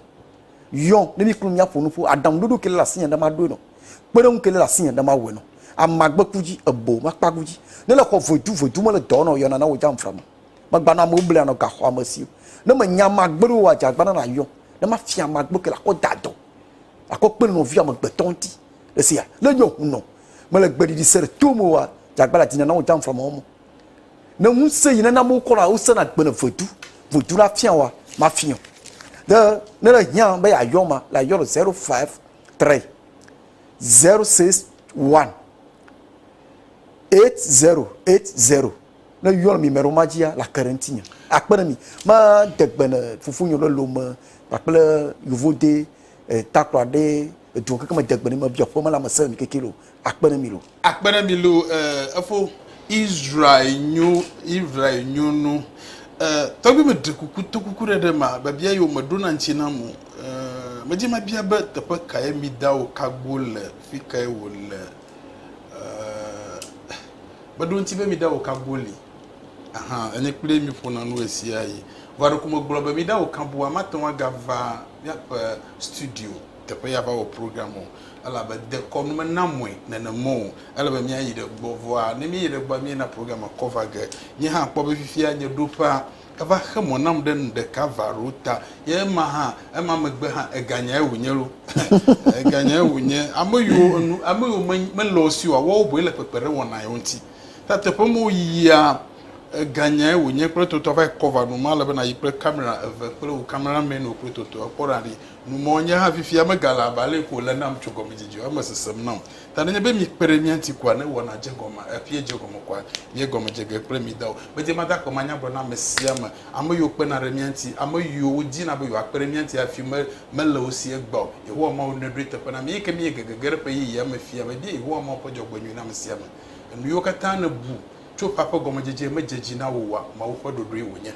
Yɔ ne mi kple míaƒo nu ƒo. Aɖaŋuɖoɖo ke le ɖe asinye ɖe maɖoe nɔ. Kpeɖeŋu ke le ɖe asinye ɖe mawɔe nɔ. Amagbeku dzi, ebo makpagu dzi. Ne le xɔ voedu voedu me le dɔ wɔna o, yɔna na wò jamfra ma. Magbanɔ amewo bli anɔ gaxɔ ame siwo. Ne menya ame agbe ɖewo adze agbana na yɔ. Ne mafia ame agbe ke la kɔ da dɔ. Akɔ kpe nɔvia ame gbetɔ ŋuti. Le se ya. Ne yɔ ŋu nɔ. Mele gbe ɖiɖi se ɖe to me oa, dze agbana dina na wo dam fla mɔ mo. Ne ŋu se yi ne na amewo kɔ na wo sena gbe ne vedu. Vedu na fia oa, mafia. Ne, ne le hiã be ya yɔ ma, la yɔ le 053 061 8080. Ne yɔn mi mɛɖewo ma dzia, la ke ɖe ŋtinye. A kpe ɖe mi. Ma de gbe ne fofo nyɔ ɖe lome kpakple yovo de e takplɔ aɖe edu keke me de gbe ne mi bia ƒe me la me se mi keke lo. A kpe ɖe mi lo. A kpe ɖe mi lo e efo Israel nyo Israel nyo nu e tɔgbi me ɖe kuku to kuku ɖe ɖe ma be bia yo me ɖo na ŋtsi na mu e me dzi ma bia be teƒe kae mi da wo kagbo le fi kae wo le. Meɖo ŋuti be miɖa wò kabuwo li ahan enye kpli mi ƒona nu ɣesiaɣi. Vɔa ɖeko megblɔ be miɖa wò kabua mate ŋu agava míaƒe studio teƒe ya va wɔ program o elabe dekɔnu mena mɔe nenema o. Ele be míayi ɖe gbɔ vɔa ne míeyi ɖe gbɔa míena program kɔ va ge. Nye hã kpɔ be fifia nye ɖoƒea Eva xe mɔ nam ɖe nu ɖeka va ɖo ta. Ye ema hã, ema megbe hã, eganyae wònye ɖo. Eganyae wònye. Ame yiwo enu, ame yiwo me, mele wo si oa, woawo boe le kpekpeɖeŋ wɔna yewo ŋuti. Ta teƒe ma woyiyia, eganyae wònye kple toto ava yi kɔ va ɖo. Mele be nàyi kple kamera eve kple wò camera man-wo kple toto. Èkpɔ ɖa ɖi nu mɔ, Nye hã fifia megale abe ale ko wòle nam tso gɔmedzedze o, eme sesem nam. Ta nenye be míekpe ɖe mía ŋuti koa, ne wɔna dze gɔme, eƒia dze gɔme koa, míegɔme dze ge kple mí dawo. Medi be made akpe manyagblɔ na ame sia ame, ame yiwo kpena ɖe mía ŋuti, ame yiwo wodina be yewoakpe ɖe mía ŋuti hafi me, mele wo si egbea o. Yehowa Mawu nɔe ɖoe teƒe na mí, eyike míege gege ɖe ƒe yeyea me fia be míe Yehowa Mawu ƒe dzɔgbenyui na ame sia ame. Enuyiwo katã nèbu tso ƒea ƒe gɔmedzedzee medze dzi na wò oa? Mawu ƒe ɖoɖoe wònye.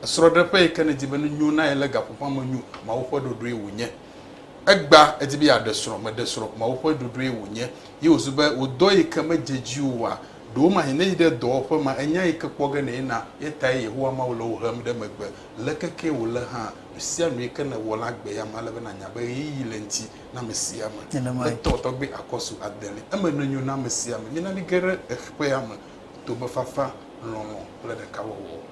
esrɔ̃ɖeƒe yi ke nèdi be nenyo na ye lé gaƒo ƒã me nyo, Mawu ƒe ɖoɖoe wònye. Egbea èdi be yeaɖe srɔ̃, meɖe srɔ̃, Mawu ƒe ɖoɖoe wònye. Ye wòzu be wò dɔ yi ke medze edzi o oa, ɖewomahĩ ne yi ɖe dɔwɔƒe ma, ènya yi ke kpɔ ge nèyi na ye tae Yehowa Mawu le wò hem ɖe megbe. Leke kee wòle hã, nu sia nu yi ke nèwɔ la gbe ya me, ele be nànya be ɣeyiɣi le eŋuti na ame sia ame. Etɔ tɔgbi akɔ su ade li. Eme nenyo na ame sia ame. Mina míage ɖe ƒea me to be fafa, lɔlɔ̃ kple ɖekawɔwɔ.